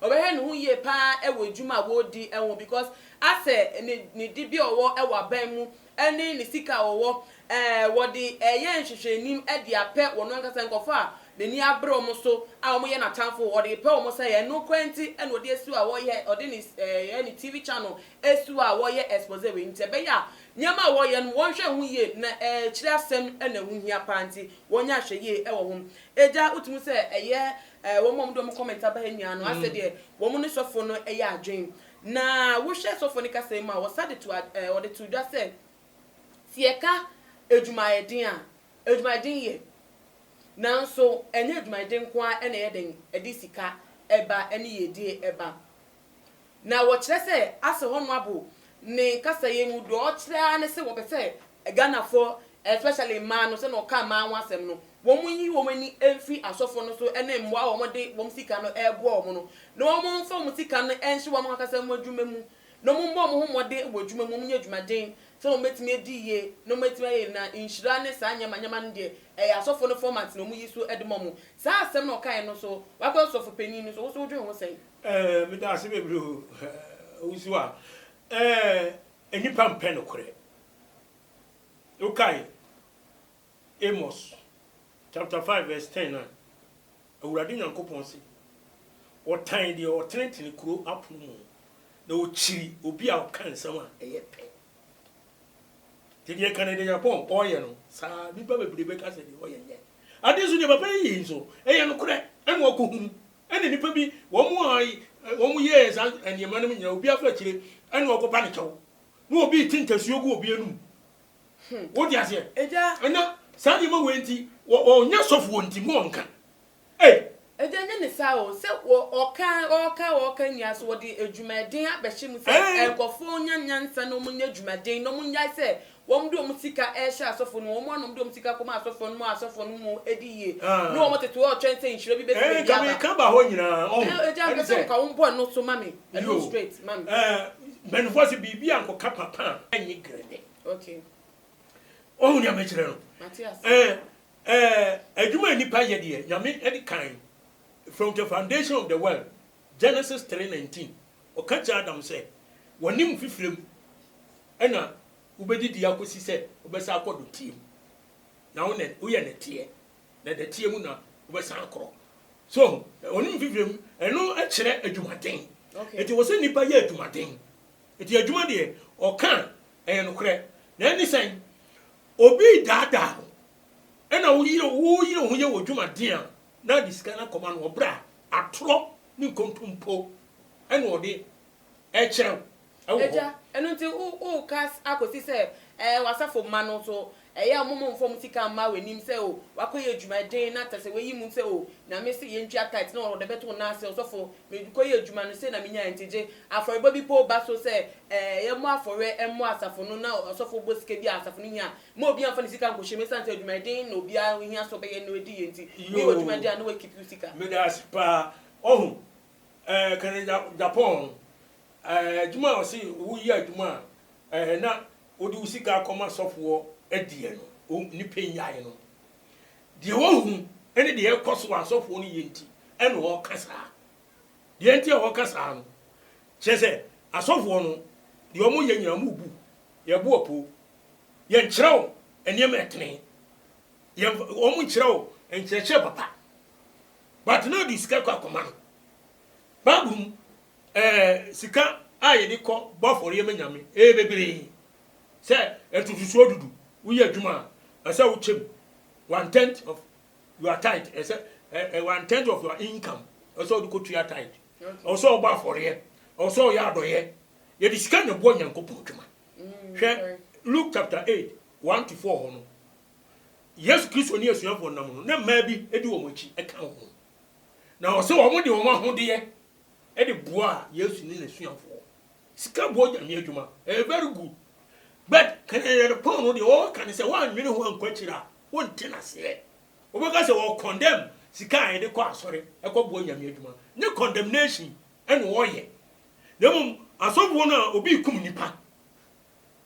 Ɔbɛhwɛ ne ho yie paa wɔ adwuma a ɔredi ho because asɛ ne ne dibea a ɔwɔ wɔ aban mu ne ne sika a ɔwɔ eh, wɔde reyɛ nhwehwɛanim de apɛ wɔn ankasa nkurɔfoɔ a n'ani abere wɔn so a wɔyɛ n'atamfo, ɔde repɛ wɔn sɛ ɛno nkoaa nti na ɔde asi hɔ a ɔreyɛ, ɔde ne eh, ne TV channel asi hɔ a ɔreyɛ expose wei nti ɛbɛyɛ a nneɛma a wɔreyɛ no wɔnhwɛ ho yie na ɛkyerɛ asɛm na ɛho hia paa nti wɔnyɛ ahwɛyie wɔ ho. Agya, wotumi hu sɛ ɛyɛ Eh wɔn a wɔde wɔn comment aba ha nyinaa no asɛ deɛ wɔn ne sɔfoɔ no yɛ adwen. Na wohwɛ sɔfoɔ no kasa yi mu a wɔsa de to ad eh wɔde to dwa sɛ sɛ yɛka adwumayɛden a adwumayɛden yɛ nanso ɛnyɛ adwumayɛden nko ara na ɛyɛ dɛn ɛde sika ba ɛne yiedie ba. Na wɔkyerɛ sɛ ase hɔ no abo ne kasa yi mu deɛ ɔkyerɛ ara ne sɛ wɔpɛ sɛ Ghanafoɔ especially mmaa no sɛdeɛ ɔkaa mmaa ho asɛm no wɔn nyi wɔn ani mfiri asɔfoɔ no so ne mmoa a wɔn de wɔn sika no ɛreboa wɔn no na wɔn mfa wɔn sika no nhyɛ wɔn ankasa mu adwuma mu na wɔn mmɔ wɔn ho mmɔden wɔ adwuma mu wɔn nyɛ adwumaden sɛdeɛ wɔn bɛtumi adi yie na wɔn atumi ayɛ na nhyira ne saa nneɛma nneɛma no deɛ ɛyɛ asɔfoɔ no format na wɔn yi so de ma wɔn saa asɛm na ɔkaeɛ no nso wakɔyɛ ɔsɔfo panin no nso wo nso wodwen ho sɛn? Eh meda ase bebree o eh wusu a eh nnipa mpɛ nokorɛ wokae Amos chapter five verse ten no a Awurade Nyankopɔn se ɔtan deɛ ɔtenetene kuro apono mu no na ɔkyiri obi a ɔka nsɛm a ɛyɛ pɛ nti deɛ kane deɛ Nyankopɔn ɔyɛ no saa nnipa bebree bɛka sɛ deɛ ɔyɛ nyɛ ade nso deɛ papa yi yɛ nso ɛyɛ nokorɛ ɛna ɔkɔhunu Ɛna nnipa bi, wɔn a wɔn yɛɛ saa nneɛma no mu nyinaa, obi afa akyire, ɛna ɔkɔ ba ne kyɛw, na obi te ntasuo gu obi anum. Hmm. Wo di aseɛ? Ɛgya. Ɛna saa nneɛma wɔ nti, wɔnyɛ sɔfo wɔ nti, mu ɔnka. Ee. Ɛgya nyɛ ne saa o, sɛ ɔka ɔka ɔka nyinaa so wɔde adwumaden abɛhyɛ mu sɛ nkɔfoɔ nya nyansa na wɔn nyɛ adwumaden na wɔn nyae sɛ Wɔn de wɔn sika rehyɛ asɔfoɔ no mu, wɔn anom de wɔn sika kɔma asɔfoɔ no ma asɔfoɔ no mu di yie, ne wɔn tete hɔ retwɛn sɛ nhyira bi bɛfiri baabi aba. Ɛɛ, agya, mepɛ sɛ woka wo bɔn no so ma me, ɛno straight ma me. Ɛɛ, mpanimfoɔ se biribi ankɔka papa a, ɛnyɛ grɛne. Okay. Woahu deɛ mekyerɛ no? Mate ase. Ɛɛ, ɛɛ, adwuma a nnipa yɛ deɛ, Nyame de kan, from the foundation of the world, Genesis three nineteen, Ɔka kyerɛ Adam sɛ, Wɔ ne mu fifire mu na wobɛdidi akɔsi sɛ wobɛsan akɔ dɔteɛ mu, na wo na woyɛ nɛteɛ, na dɛteɛ mu na wobɛsan akorɔ. So, wɔ ne mu fifire mu, ɛno kyerɛ adwumaden. Enti ɛwɔ sɛ nnipa yɛ adwumaden. Enti adwuma deɛ, ɔka a, ɛyɛ nokorɛ. Na ɛne sɛn? Obi redaadaa wo, ɛna woyere wo ho yɛ wɔ adwumaden a na ɔde sika no akɔma no wɔ berɛ a atorɔ ne nkontompo na ɔde rekyerɛ wo wɔ hɔ. Agya, ɛno nti wo woka akɔsi sɛ ɛɛ w'asafo mma no nso ɛyɛ a wɔn mfa wɔn sika mma w'anim sɛ o wakɔyɛ adwuma den na kyerɛ sɛ wayi mu sɛ o Nyame se yɛntua tithe na ɔde bɛto wo nan ase ɔsɔfo mekɔyɛɛ adwuma no sei na menyaeɛ nti gye afɔrebɔ bi mpo ba so sɛ ɛɛ yɛmmɔ afɔreɛ mmɔ asafo no na ɔsɔfo bɔ sika bi a asafo no hia a Mma obi amfa ne sika ankɔhyɛ mu ɛsiane sɛ adwumayɛden na obiara ohia sɛ ɔbɛyɛ na ɔadi yie nti. Yoo. Woyɛ w'adwuma deɛ a na woakeep wo sika. Medaase paa. Ɔhu eh kane ja Japan no eh adwuma a ɔse woyɛ adwuma a eh na wode wo sika kɔma sɔfoɔ deɛ no o ne pɛ nyae no. Deɛ wahu ne deɛ ɛkɔso a sɔfoɔ no yɛ nti ɛna ɔɔka saa. Deɛ nti a ɔɔka saa no kyerɛ sɛ asɔfoɔ no deɛ ɔmo yɛ nyinaa ɔmo bu yɛbo apoo. Yɛnkyerɛw nneɛma a ɛtene. Yɛn wɔn nkyerɛw nkyerɛkyerɛ papa. But na ɔde sika kɔ akɔma no. Bible mu ɛɛ sika a yɛde kɔ bɔ afɔreɛ ma nyame ɛyɛ bebree. Sɛ ntotosoɔ dudu woyɛ adwuma a ɛsɛ wokyɛ mu one tenth of your tithe ɛsɛ ɛ one tenth of your income ɛsɛ ɔde kɔ tua tithe. Ɛwɔ sɛ ɔbɔ afɔreɛ. Ɛwɔ sɛ ɔyɛ adɔyɛ. Yɛde sika na ɛboɔ Nyankopɔn adwuma. Hwɛ Luke chapter eight one to four hɔ no. Yesu Kristo ne asuafoɔ no nam no, na mmaa bi di wɔn akyi ka wɔn ho. Na ɔsɛ wɔn de wɔn ahodeɛ de boa Yesu ne n'asuafoɔ. Sika boɔ nyame adwuma, ɛyɛ very good. But kanyanyane pɔn no deɛ wɔka ne sɛ wɔanwene ho ankɔ akyiri a, wonte n'aseɛ. Wobɛka sɛ wɔ condemn sika a yɛde kɔ asɔre ɛkɔ boɔ nyame adwuma. Ne condemnation na wɔyɛ, na mmom asɔfoɔ no a obi rekum nipa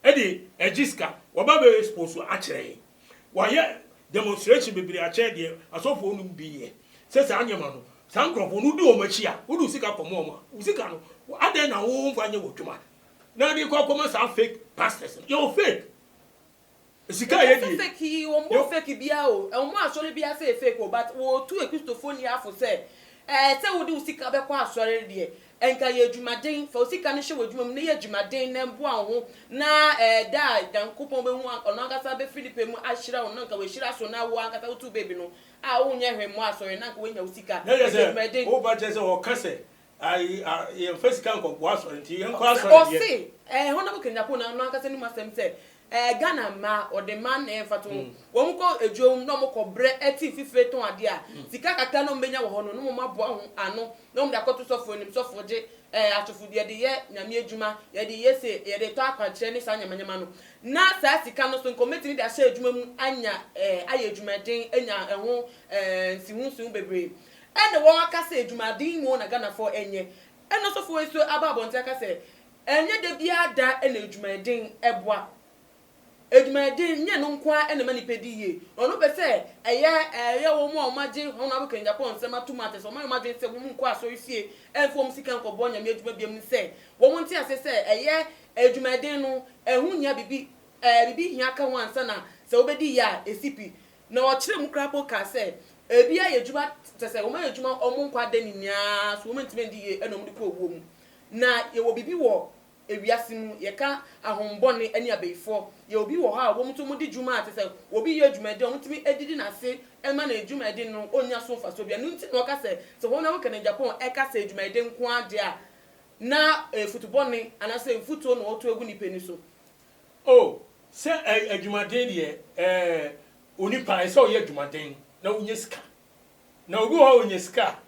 de regye sika, wɔba bɛ expose akyerɛ yɛn. Wɔayɛ demonstration bebree akyerɛ deɛ asɔfoɔ nom bi yɛ, sɛ saa nneɛma no, saa nkorɔfoɔ no wodi wɔn akyi a, wode wo sika kɔma wɔn a, wo sika no adɛn na womfa nyɛ w'adwuma na de kɔ akɔma saa fake pastors no? Yɛwɔ fake. Sika a yɛdie yɛ. Fake bia o ɛwɔmu asɔre bia sɛ yɛ fake o but wɔtu akristofo ni afo sɛ ɛɛ sɛ wode wo sika bɛkɔ asɔre no deɛ ɛnka yɛ adwumaden fa wo sika no hyɛ w'adwuma mu na yɛ adwumaden na boa wo ho na ɛɛ da a Nyankopɔn bɛhu a ɔno ankasa bɛfiri ne pɛ mu ahyira wo no anka wahyira so na wo ankasa wotu baby no a wonyɛ hwee mmɔ asɔre no anka wanya wo sika ɛyɛ adwumaden. Woba kyerɛ sɛ ɔka sɛ Ayi a yɛnfa sika nkɔboa asɔre nti yɛnkɔ asɔre deɛ. Ɔse ɛɛ Honable Kanyako na ɔno ankasa anim asɛm sɛ ɛɛ Ghana mmaa ɔde man na yɛnfa to ho wɔn kɔ adwom na wɔn kɔ brɛ ɛte fifire tɔn adeɛ a sika kakra na wɔn bɛnya wɔ hɔ no na wɔn aboa ho ano na wɔn de akɔto sɔfoɔ anim sɔfoɔ gye ɛɛ asɔfodie yɛde yɛ Nyame adwuma yɛde yɛ se yɛde retɔ akwankyerɛ ne saa nyama nyama no na saa sika no so nka wɔn bɛtumi de ahyɛ adwuma mu anya ɛɛ ayɛ adwumaden anya ɛho ɛɛ nsiho nsiho bebree Ɛnde wɔaka sɛ adwumaden mu na Ghanafoɔ nyɛ, ɛnna ɔsɔfoɔ yi nso aba abɔnten aka sɛ ɛnyɛ da biara da na adwumaden boa. Adwumaden nyɛ ɛno nko ara na ɛma nnipa di yie, na ɔno pɛ sɛ ɛyɛ ɛyɛ wɔn a wɔagye wɔn a wɔka Japan nsɛm atom a kyerɛ sɛ wɔayɛ wɔn adwene sɛ wɔnkɔ asɔrefie mfa wɔn sika nkɔboa Nyame adwuma biara mu sɛ wɔnte aseɛ sɛ ɛyɛ adwumaden no ɛho hia biribi ɛɛ biribi hia ka ho ansa na sɛ wobɛdi yie a ɛsi pi Na ɔkyerɛɛ mu koraa mpo kaa sɛ, Ebi ayɛ adwuma, kyerɛ sɛ, wɔayɛ adwuma wɔn nkwa da nyinaa so, wɔantumi andi yie na wɔde kɔ owuo mu. Na yɛwɔ biribi wɔ ewiase mu, yɛka ahombɔne ne abayifoɔ. Yɛwɔ bi wɔ hɔ a wɔn nso wɔdi dwuma a, kyerɛ sɛ, obi yɛ adwumayɛden a, wɔtumi didi n'ase ma no adwumayɛden no ɔnnya so mfasoɔ biara. Ɛno nti na ɔka sɛ, sɛ wɔn a wɔka no Japan ka sɛ adwumayɛden nko ara deɛ a, na ɛyɛ futubɔne anaasɛ mfuturo na wɔto agu nnipa ani so. O, sɛ ɛ, adwumaden deɛ, ɛ, onipa, ɛsɛ sɛ ɔyɛ adwumaden na ɔnya sika. Na obi wɔ hɔ a, ɔnya sika a,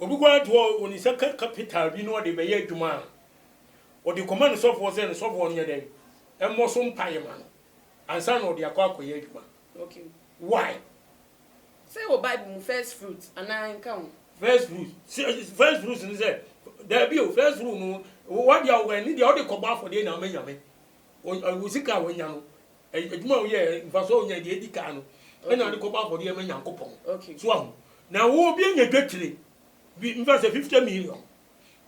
obi koraa de hɔ, ɔde ne nsa ka kapita bi na ɔde bɛyɛ adwuma a, ɔde kɔma ne sɔfoɔ sɛ ne sɔfoɔ nyɛ dɛn? Mmɔ so mpaeɛ ma no ansa na ɔde akɔ akɔyɛ adwuma. Why? Sɛ wɔ Bible mu first fruit anaa ɛnka ho? First fruit, first fruit ne sɛ, daabi o, first fruit no, w'adeɛ a wowɔ ɛne deɛ wode kɔbɔ afɔdeɛ na ama Nyame. Wo sika a wanya no, adwuma a woyɛɛ, mfasoɔ a wonyae, deɛ edi kan no, ɛna wode kɔbɔ afɔdeɛ ama Nyankopɔn. So ahu? Na wo obi anya dwetire bi, mfa sɛ fifty million,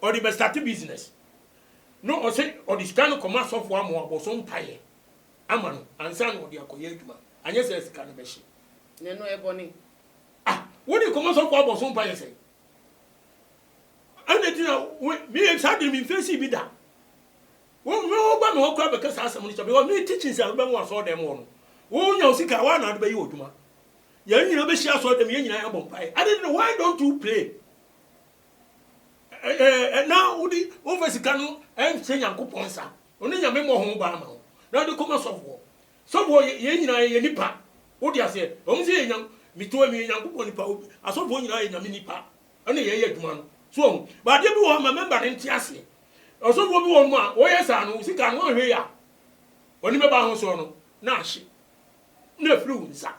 ɔde bɛstate business, na ɔse ɔde sika no kɔma sɔfoɔ ama wabɔ so mpaeɛ. ama no ansa na ɔde akɔyɛ adwuma, anyɛ saa a sika no bɛhye. Na ɛno ɛyɛ bɔne? Ah, wode nkɔmmɔ sɛ wokɔ abɔ so mpa yɛ sɛn? Ɛna ti na me saa de me mfesi bi da. Wo me wo ba me hɔ kora bɛka saa asɛm no kyɛ because me teaching sɛ wobɛn wɔ asɔre dɛm hɔ no. Wo nya wo sika wa na ade bɛyɛ odwuma. Yɛn nyinaa bɛhyia asɔre dɛm yɛn nyinaa yɛbɔ mpae. Ade no why don't you pray? na wode womfa sika no nhyɛ Nyankopɔn nsa, ɔno Nyame mmɔ ho ban ma wo na wode kɔma sɔfoɔ. Sɔfoɔ yɛ yɛn nyinaa yɛyɛ nipa, wode aseɛ, ɛwɔm sɛ yɛ metoa meyɛ Nyankopɔn nipa, asɔfoɔ nyinaa yɛ Nyame nipa ɛna yɛyɛ adwuma no, so wahu. But adeɛ bi wɔ hɔ ma member no nte aseɛ, ɔsɔfoɔ bi wɔ hɔ a wɔyɛ saa no wo sika no wɔnhwɛ yɛ a, ɔne bɛba ho soɔ no na ahye na afiri wo nsa,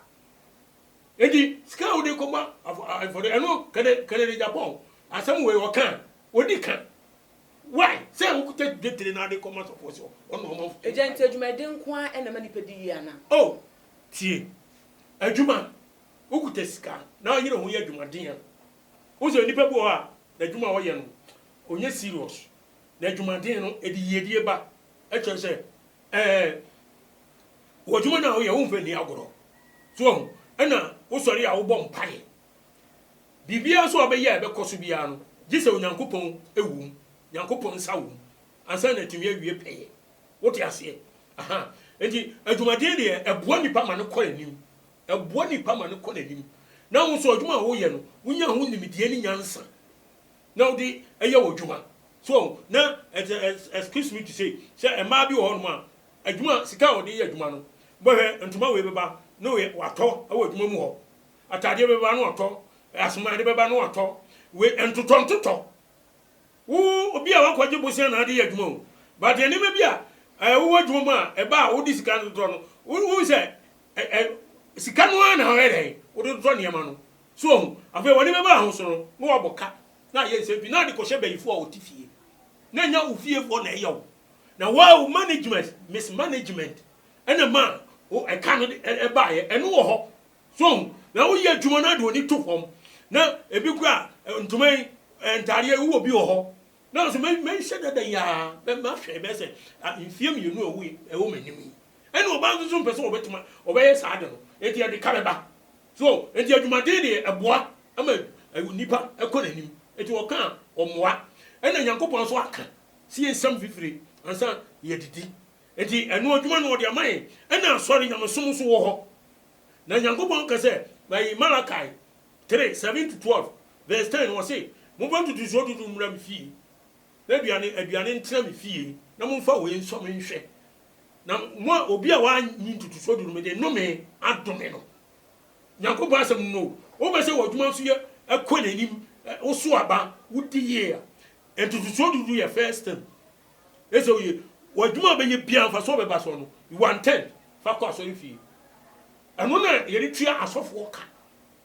Enti sika a wode kɔbɔ afɔre, ɛno kɛdɛ kɛdɛ de Japan asɛm wei ɔka a, odi ka. Why? Sɛ wokuta dwetire na wode kɔma asɔfoɔ sɛ ɔne ɔmamfo bɔ mpaeɛ. Agya, nti adwumayɛden nko ara na ɛma nnipa di yie anaa? Oh, tie. Adwuma, wokuta sika na woyere ho yɛ adwumaden a, wohu sɛ onipa bi wɔ hɔ a, n'adwuma a ɔyɛ no, ɔnyɛ serious. Na adwumaden no, ɛde yiedie ba. Ɛkyerɛ sɛ, Ɛɛ, wɔ adwuma no a woyɛ womfa nni agorɔ. So wahu? Ɛna wosɔre a wobɔ mpaeɛ. Biribiara nso a wobɛyɛ a ɛbɛkɔ so biara no, gye sɛ Onyankopɔn wom, Nyankopɔn nsa wom, ansa na atumi awie pɛyɛ. Wote aseɛ? Aha. Enti adwumaden deɛ, ɛboa nnipa ma no kɔ anim. Ɛboa nnipa ma no kɔ n'anim. Na wo nso adwuma a woyɛ no, wonya ho nimdeɛ ne nyansa. na wode yɛ wo dwuma. So ɔho? Na excuse me to say, sɛ mmaa bi wɔ hɔnom a, adwuma, sika a wɔde yɛ adwuma no, bɛhwɛ ntoma wei bɛba na watɔ wɔ adwuma mu hɔ, ataadeɛ bɛba na watɔ, asomaade bɛba na watɔ, wei ntotɔ ntotɔ. Wo obi a wakɔgye bosea na ade yɛ adwuma o, but nneɛma bi a wowɔ adwuma mu a ɛba a wode sika no totɔ no, wohu sɛ sika no ara na ɔyɛ dɛn, wode totɔ nneɛma no. So wahu? Afei wɔne bɛma ahoso no, na wɔabɔ ka, na ayɛ nsɛm pii, na ade kɔhyɛ banyinfo a wɔte fie, na ɛnyɛ wo fiefoɔ na ɛyɛ wo, na wo ara wo management, mismanagement, ɛna ma wo ɛka no de baeɛ, ɛno wɔ hɔ, so wahu? Na woyɛ adwuma na wode w'ani to fam, na ebi koraa ntoma yi, ntaadeɛ yi, wowɔ bi wɔ hɔ, na wo sɛ mɛ, mɛnhyɛ da da yi ara, mɛ, mahwɛ ɛbɛyɛ sɛ mfeɛ mmienu a ɛwɔ, ɛwɔ m'anim yi, ɛna ɔbaa nso so mpɛ sɛ ɔbɛtuma, ɔbɛyɛ saa ade no, enti ɛde ka bɛba. So nti adwumaden de ɛboa ma onipa kɔ n'anim? Nti wɔka a ɔmmoa. Ɛna Nyankopɔn nso aka se yɛnsam fifire ansa yɛadidi. Nti ɛno adwuma no ɔde ama yɛn. Ɛna asɔre, nyamesom, nso wɔ hɔ. Na Nyankopɔn ka sɛ ɛyi Malakai three, seven to twelve, verse ten, ɔse, Mobɛtoto nsuo dodow mmra me fie. M'aduane, aduane ntena me fie, na momfa wei nsɔ me nhwɛ, na mo a obi a wanyi ntotosoɔ du no mede nnome adome no. Nyankopɔn asɛm no no o, wopɛ sɛ w'adwuma nso yɛ ɛkɔ n'anim, woso aba, wodi yie a, ntotosoɔ du no yɛ first thing. Ɛsɛ woyɛ w'adwuma a wobɛyɛ biara mfasoɔ bɛba soɔ no, you are ten, fa kɔ asɔrefie. Ɛno na yɛde tua asɔfoɔ ka.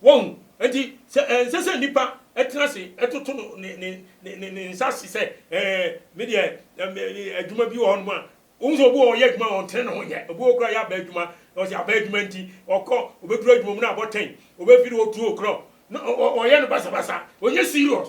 Wahu? Enti sɛ ɛnsɛ sɛ nnipa tena ase toto no ne, ne, ne, ne, ne nsa ase sɛ, Ɛɛ, me deɛ, ɛm, ɛ, ɛ, adwuma bi wɔ hɔnom a, wohu sɛ obi wɔ hɔ a ɔyɛ adwuma a ɔntene ne ho nyɛ. Obi wɔ hɔ koraa a ɔyɛ abaa adwuma, na ɔte abaa adwuma nti, ɔkɔ, obeduru adwuma mu na abɔ ten, obefiri hɔ two o'clock, na ɔ, ɔ, ɔyɛ no basabasa. Ɔnyɛ serious.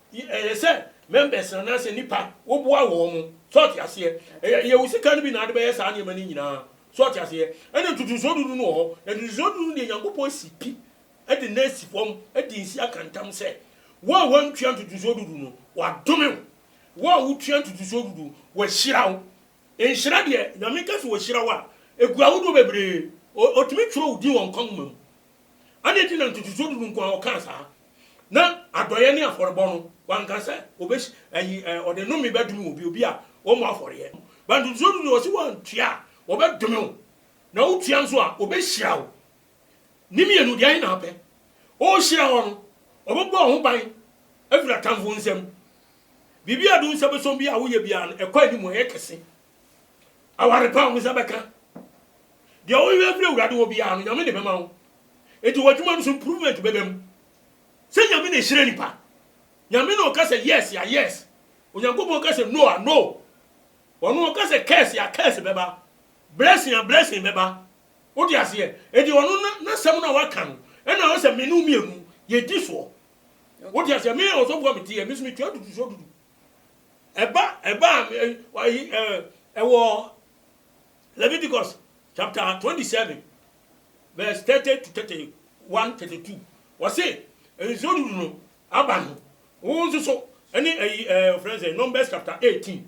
Y ɛyɛ sɛ members anaa sɛ nnipa, woboa wɔn. So ɔte aseɛ? Ɛ ɛyɛ wo sika no bi na wode bɛyɛ saa nneɛma no nyinaa. So ɔte aseɛ? Ɛna ntotosoɔ dudu no wɔ hɔ. Na ntotosoɔ dudu no deɛ, Nyankopɔn asi pi de no asi fam, de nsi aka ntam sɛ, Wo a woantua ntotosoɔ dudu no, wɔadome wo. Wo a wotua ntotosoɔ dudu, wɔahyira wo. Nhyira deɛ, Nyame ka sɛ Ɔhyira wo a, ɛgu ahodoɔ bebree. Ɔ ɔtumi twerɛ wo din wɔ nkwa nwoma mu. Adɛn nti na ntotosoɔ dudu nko ara ɔkaa saa? Na adɔeɛ ne afɔrebɔ no, wanka sɛ ɔbɛ ayi ɛ ɔde nnome bɛdome obi, obi a ɔmmɔ afɔreɛ. But ntotosoɔ dudu ɔse wantua a, ɔbɛdome wo, na wotua nso a, ɔbɛhyira wo. Ne mmienu, deɛ ahe na apɛ? Ɔrehyira wo no, ɔbɛbɔ wo ho ban afiri atamfo nsam. Biribi a ɛde wo nsa bɛsɔ biara a woyɛ biara no, ɛkɔ anim, ɛyɛ kɛse. Aware pa a wo nsa bɛka. Deɛ wohwehwɛ afiri Awurade hɔ biara no, Nyame de bɛma wo. Enti w'adwuma no so improvement bɛba mu. Sɛ Nyame na ɛhyira nipa, Nyame na ɔka sɛ yes a yes, Onyankopɔn ka sɛ no a no. Ɔno ɔka sɛ curse a curse bɛba, blessing a blessing bɛba. Wote aseɛ? Enti ɔno na n'asɛm no a waka no, ɛna ɔsɛ me ne wo mmienu yɛdi soɔ. Wote aseɛ? Me a ɔsɔfoɔ a mete yɛ, me nso metua dudusoɔ dudu. Ɛba ɛba ayi ɛwɔ Leviticus chapter twenty seven verse thirty to thirty one thirty two wɔsi nsuo dudu no aba no wɔn nso so ɛne ɛyi ɛɛ ɔfrɛ sɛ Numbers chapter eighteen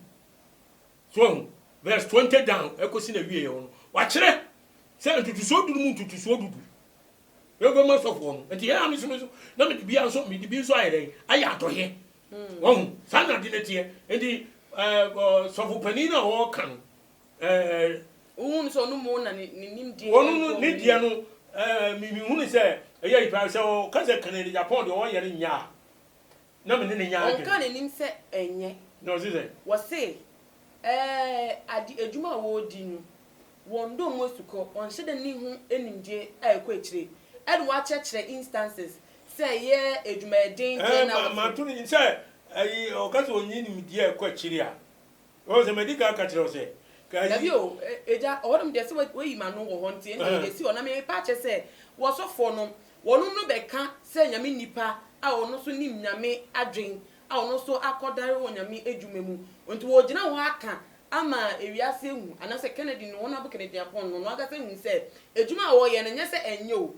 so ɛho verse twenty down ɛkɔsi na wie yɛ wɔn wakyerɛ sɛ ntutusuo dudu mu ntutusuo dudu yɛn fɛn mu asɔfoɔ no nti yɛn a mi so mi so na mi de bi nso mi de bi nso ayɛ dɛ ayɛ atɔyɛ Wahu? Saa na ade no teɛ. Enti ɛɛ sɔfo panin no a ɔreka no ɛɛ. Wohu no sɛ ɔno mmom na ne ne nimdeɛ. Ɔno no ne deɛ no ɛɛ me me hu no sɛ ɛyɛ yi paa. Sɛ ɔka sɛ Kennedy Agyapong deɛ ɔreyɛ no nyɛ a, na me ne no nyɛ adwene. Ɔnka n'anim sɛ ɛnyɛ. Na ɔse sɛn? Wɔse ɛɛ ade adwuma a wɔredi no Wɔn dɔ mu asukɔ, ɔnhyɛ da nni ho animgye a ɛkɔ akyire, ɛna wɔakyerɛkyerɛ instances sɛ ɛyɛ adwumayɛden deɛ na wɔte. Mato no sɛ ayi ɔka sɛ ɔnyi nimdeɛ a ɛkɔ akyire a, wɔn sɛ madi kan aka kyerɛ wo sɛ ka ayi. Dabi o, Agya, ɔhɔnom deɛ sɛ woayi m'ano wɔ hɔ nti ɛnneɛ ɛsi hɔ, na merepɛ akyerɛ sɛ wɔsɔfoɔ no, wɔnom no bɛka sɛ Nyame nnipa a wɔno nso nim Nyame adwen a ɔno nso akɔdare onyame adwuma mu. Nti ɔregyina hɔ aka ama ewiase ahu anaasɛ Kennedy no wɔn abo Kenedyiapɔn no ɔno ankasa ahu sɛ adwuma a ɔreyɛ no nyɛ sɛ ɛnyɛ o,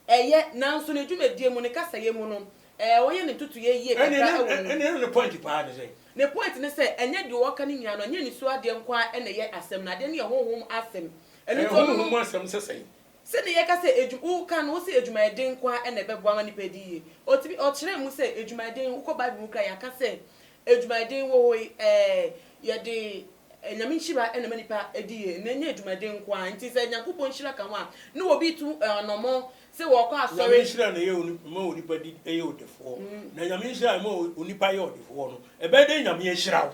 ɛyɛ nanso ne dwumadie mu, ne kasayɛ mu no ɛɛ ɔyɛ ne ntotoeɛ yie kakra wɔ mu. Ɛnneɛ na ne point paa ne sɛn? Ne point ne sɛ ɛnyɛ deɛ ɔreka no nyinaa no ɛnyɛ nisuo adeɛ nko ara na ɛyɛ asɛm no, adeɛ no yɛ honhom asɛm. Ɛno nti ɔno no. Ɛyɛ honhom asɛm sɛ sɛn? Sɛnea yɛka sɛ adwum woka no, wose adwumayɛden nko ara na ɛbɛboa ama nnipa adi yiye. Otumi, ɔkyerɛɛ mu sɛ adwumayɛden, wokɔ Bible mu koraa a, yɛaka sɛ adwumayɛden wɔ hɔ yi, ɛɛ, yɛde Nyame nhyira na ɛma nnipa di yiye, na ɛnyɛ adwumayɛden nko ara. Enti sɛ Nyankopɔn nhyira ka ho a, ne obi retu anammɔn sɛ ɔrekɔ Nyame asɔre. nhyira na ɛyɛ onipa, ɛma onipa di, yɛ ɔdefoɔ. Na Nyame nhyira a ɛma onipa yɛ ɔdefoɔ no, ɛbɛyɛ dɛn Nyame ahyira wo?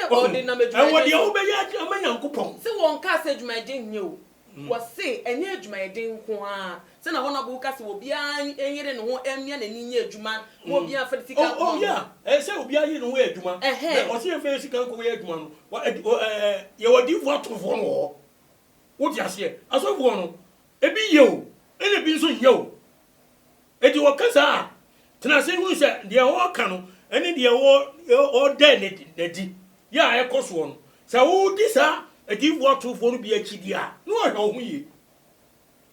Ohu, ɛwɔ deɛ wobɛyɛ ade ama Nyankopɔn. Sɛ wɔnkaa sɛ adwumayɛden nyɛ o, wɔse ɛnyɛ adwumayɛden nko ara, sɛnea Honourable ka sɛ obiara nyere ne ho mmia n'ani nyɛ adwuma na obiara mfa ne sika nkɔma mo. Oh yeah, ɛyɛ sɛ obiara nyere ne ho yɛ adwuma, na ɔse yɛmfa yɛn sika nkɔyɛ adwuma no, yɛwɔ adiyifoɔ atorofoɔ no wɔ hɔ, wote aseɛ, asɔfoɔ no, ebi yɛ o, ɛna ebi nso nyɛ o. Enti wɔka saa a, tena ase hu sɛ deɛ wɔreka no ne deɛ wɔda no adi yɛ a ɛkɔ soɔ no. Sɛ wodi saa adiyifoɔ atorofoɔ no bi akyi deɛ a, na wɔhwɛ wo ho yie.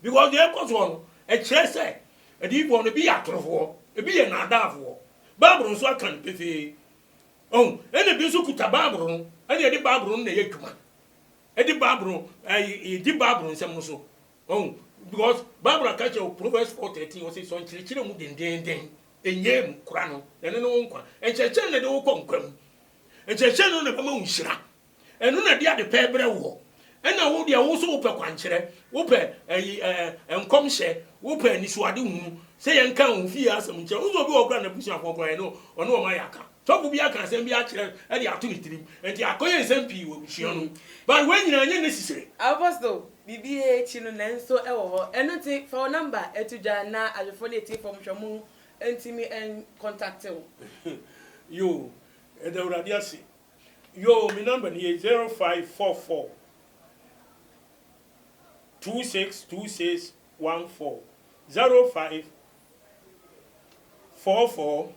Because deɛ ɛkɔ soɔ no, ɛkyerɛ sɛ adiyifoɔ no, ebi yɛ atorofoɔ, ebi yɛ nnaadaafoɔ. Bible nso aka no pefee. Ɔho, ɛna ebi nso kuta Bible no, ɛna ɛde Bible no na ɛyɛ adwuma. Ɛde Bible, ɛyi, di Bible nsɛm no so. Wahu? Because Bible ka kyerɛ wo Proverbs four thirteen ɔse sɔ nkyerɛkyerɛ mu dendeenden, nnyae mu, kora no, na ɛno ne wo nkwa. Nkyerɛkyerɛ na ɛde wo kɔ nkwa mu. Nkyerɛkyerɛ no na ɛbɛma wo nhyira. Ɛno na ɛde ade pɛɛ brɛ woɔ. Ɛna wo deɛ wo so wopɛ kwankyerɛ, wopɛ ɛyi ɛɛ nkɔmhyɛ, wopɛ anisoade hunu, sɛ yɛn ka wo fie asɛm nkyerɛ. Wo sɛ obi wɔ kora n'abusuafoɔ kora ɛno ɔne wɔn ayɛ aka. Sɔfo bi aka asɛm bi akyerɛ ɛde ato ne tirim, ɛnti akɔyɛ nsɛm pii wɔ abusua no mu. But wei nyinaa ɛnyɛ necessary. Apostle, Biribiara akyi no, nanso ɛwɔ hɔ. Ɛno nti, fa wo nɔmba to dwa na adwofo ne atiefo nhwɛmu ntumi nkɔntakte wo. Yoo, yɛda Awurade ase. Yoo, me nɔmba no ye, zero five four four, two six two six one four, zero five four four,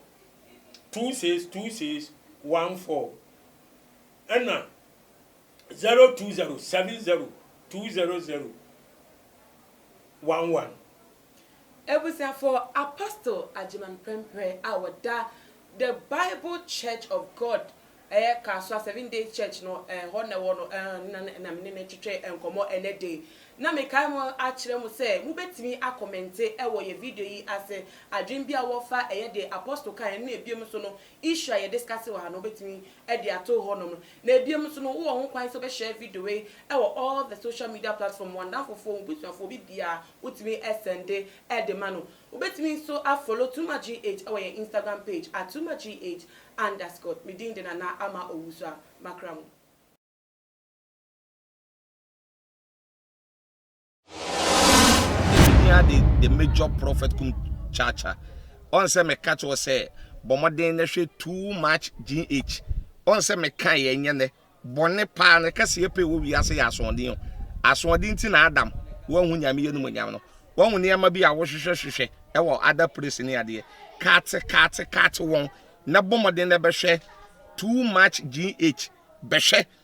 two six two six one four, ɛna zero two zero seven zero two zero zero one one. Abusuafo, Apostle Agyemang Prempeh a ɔda The Bible Church of God, ɛyɛ Kasoa Seventh Day Church no, ɛhɔ na ɛwɔ no, na na me ne no retwetwe nkɔmmɔ ɛnnɛ da yi. Na mekae ho akyerɛ mo sɛ mobɛtumi akɔmɛnte wɔ yɛn video yi ase, adwene bi a wowɔ fa ɛyɛ deɛ Apostle kaeɛ ne ɛbinom nso no issue a yɛdiskase wɔ ha no wobɛtumi de ato hɔnom. Na bio nso no, wowɔ ho kwan sɛ wobɛhyɛɛ video wei wɔ all the social media platform, w'adamfofoɔ, w'abusuafoɔ, obibiaa wotumi sɛnde de ma no. Wobɛtumi nso a follow Tuma GH wɔ yɛn Instagram page at Tuma GH underscore. Me din de Nana Ama Owusuaa. Makra mo. Nehemia de the major prophet kum kyaakya. Ɔn sɛ meka kyerɛ sɛ bɔ mmɔden na hwɛ too much GH. Ɔn sɛ meka yɛ nyɛ nɛ bɔne paa ne kɛseɛ pɛ wɔ wiase yɛ asoɔden o. Asoɔden ti na Adam wanhu nyame yɛ no mu nyam no. Wahu nneɛma bi a wohwehwɛ hwehwɛ ɛwɔ other place ne adeɛ. Kaate kaate kaate wɔn na bɔ mmɔden na bɛhwɛ too much GH. Bɛhwɛ.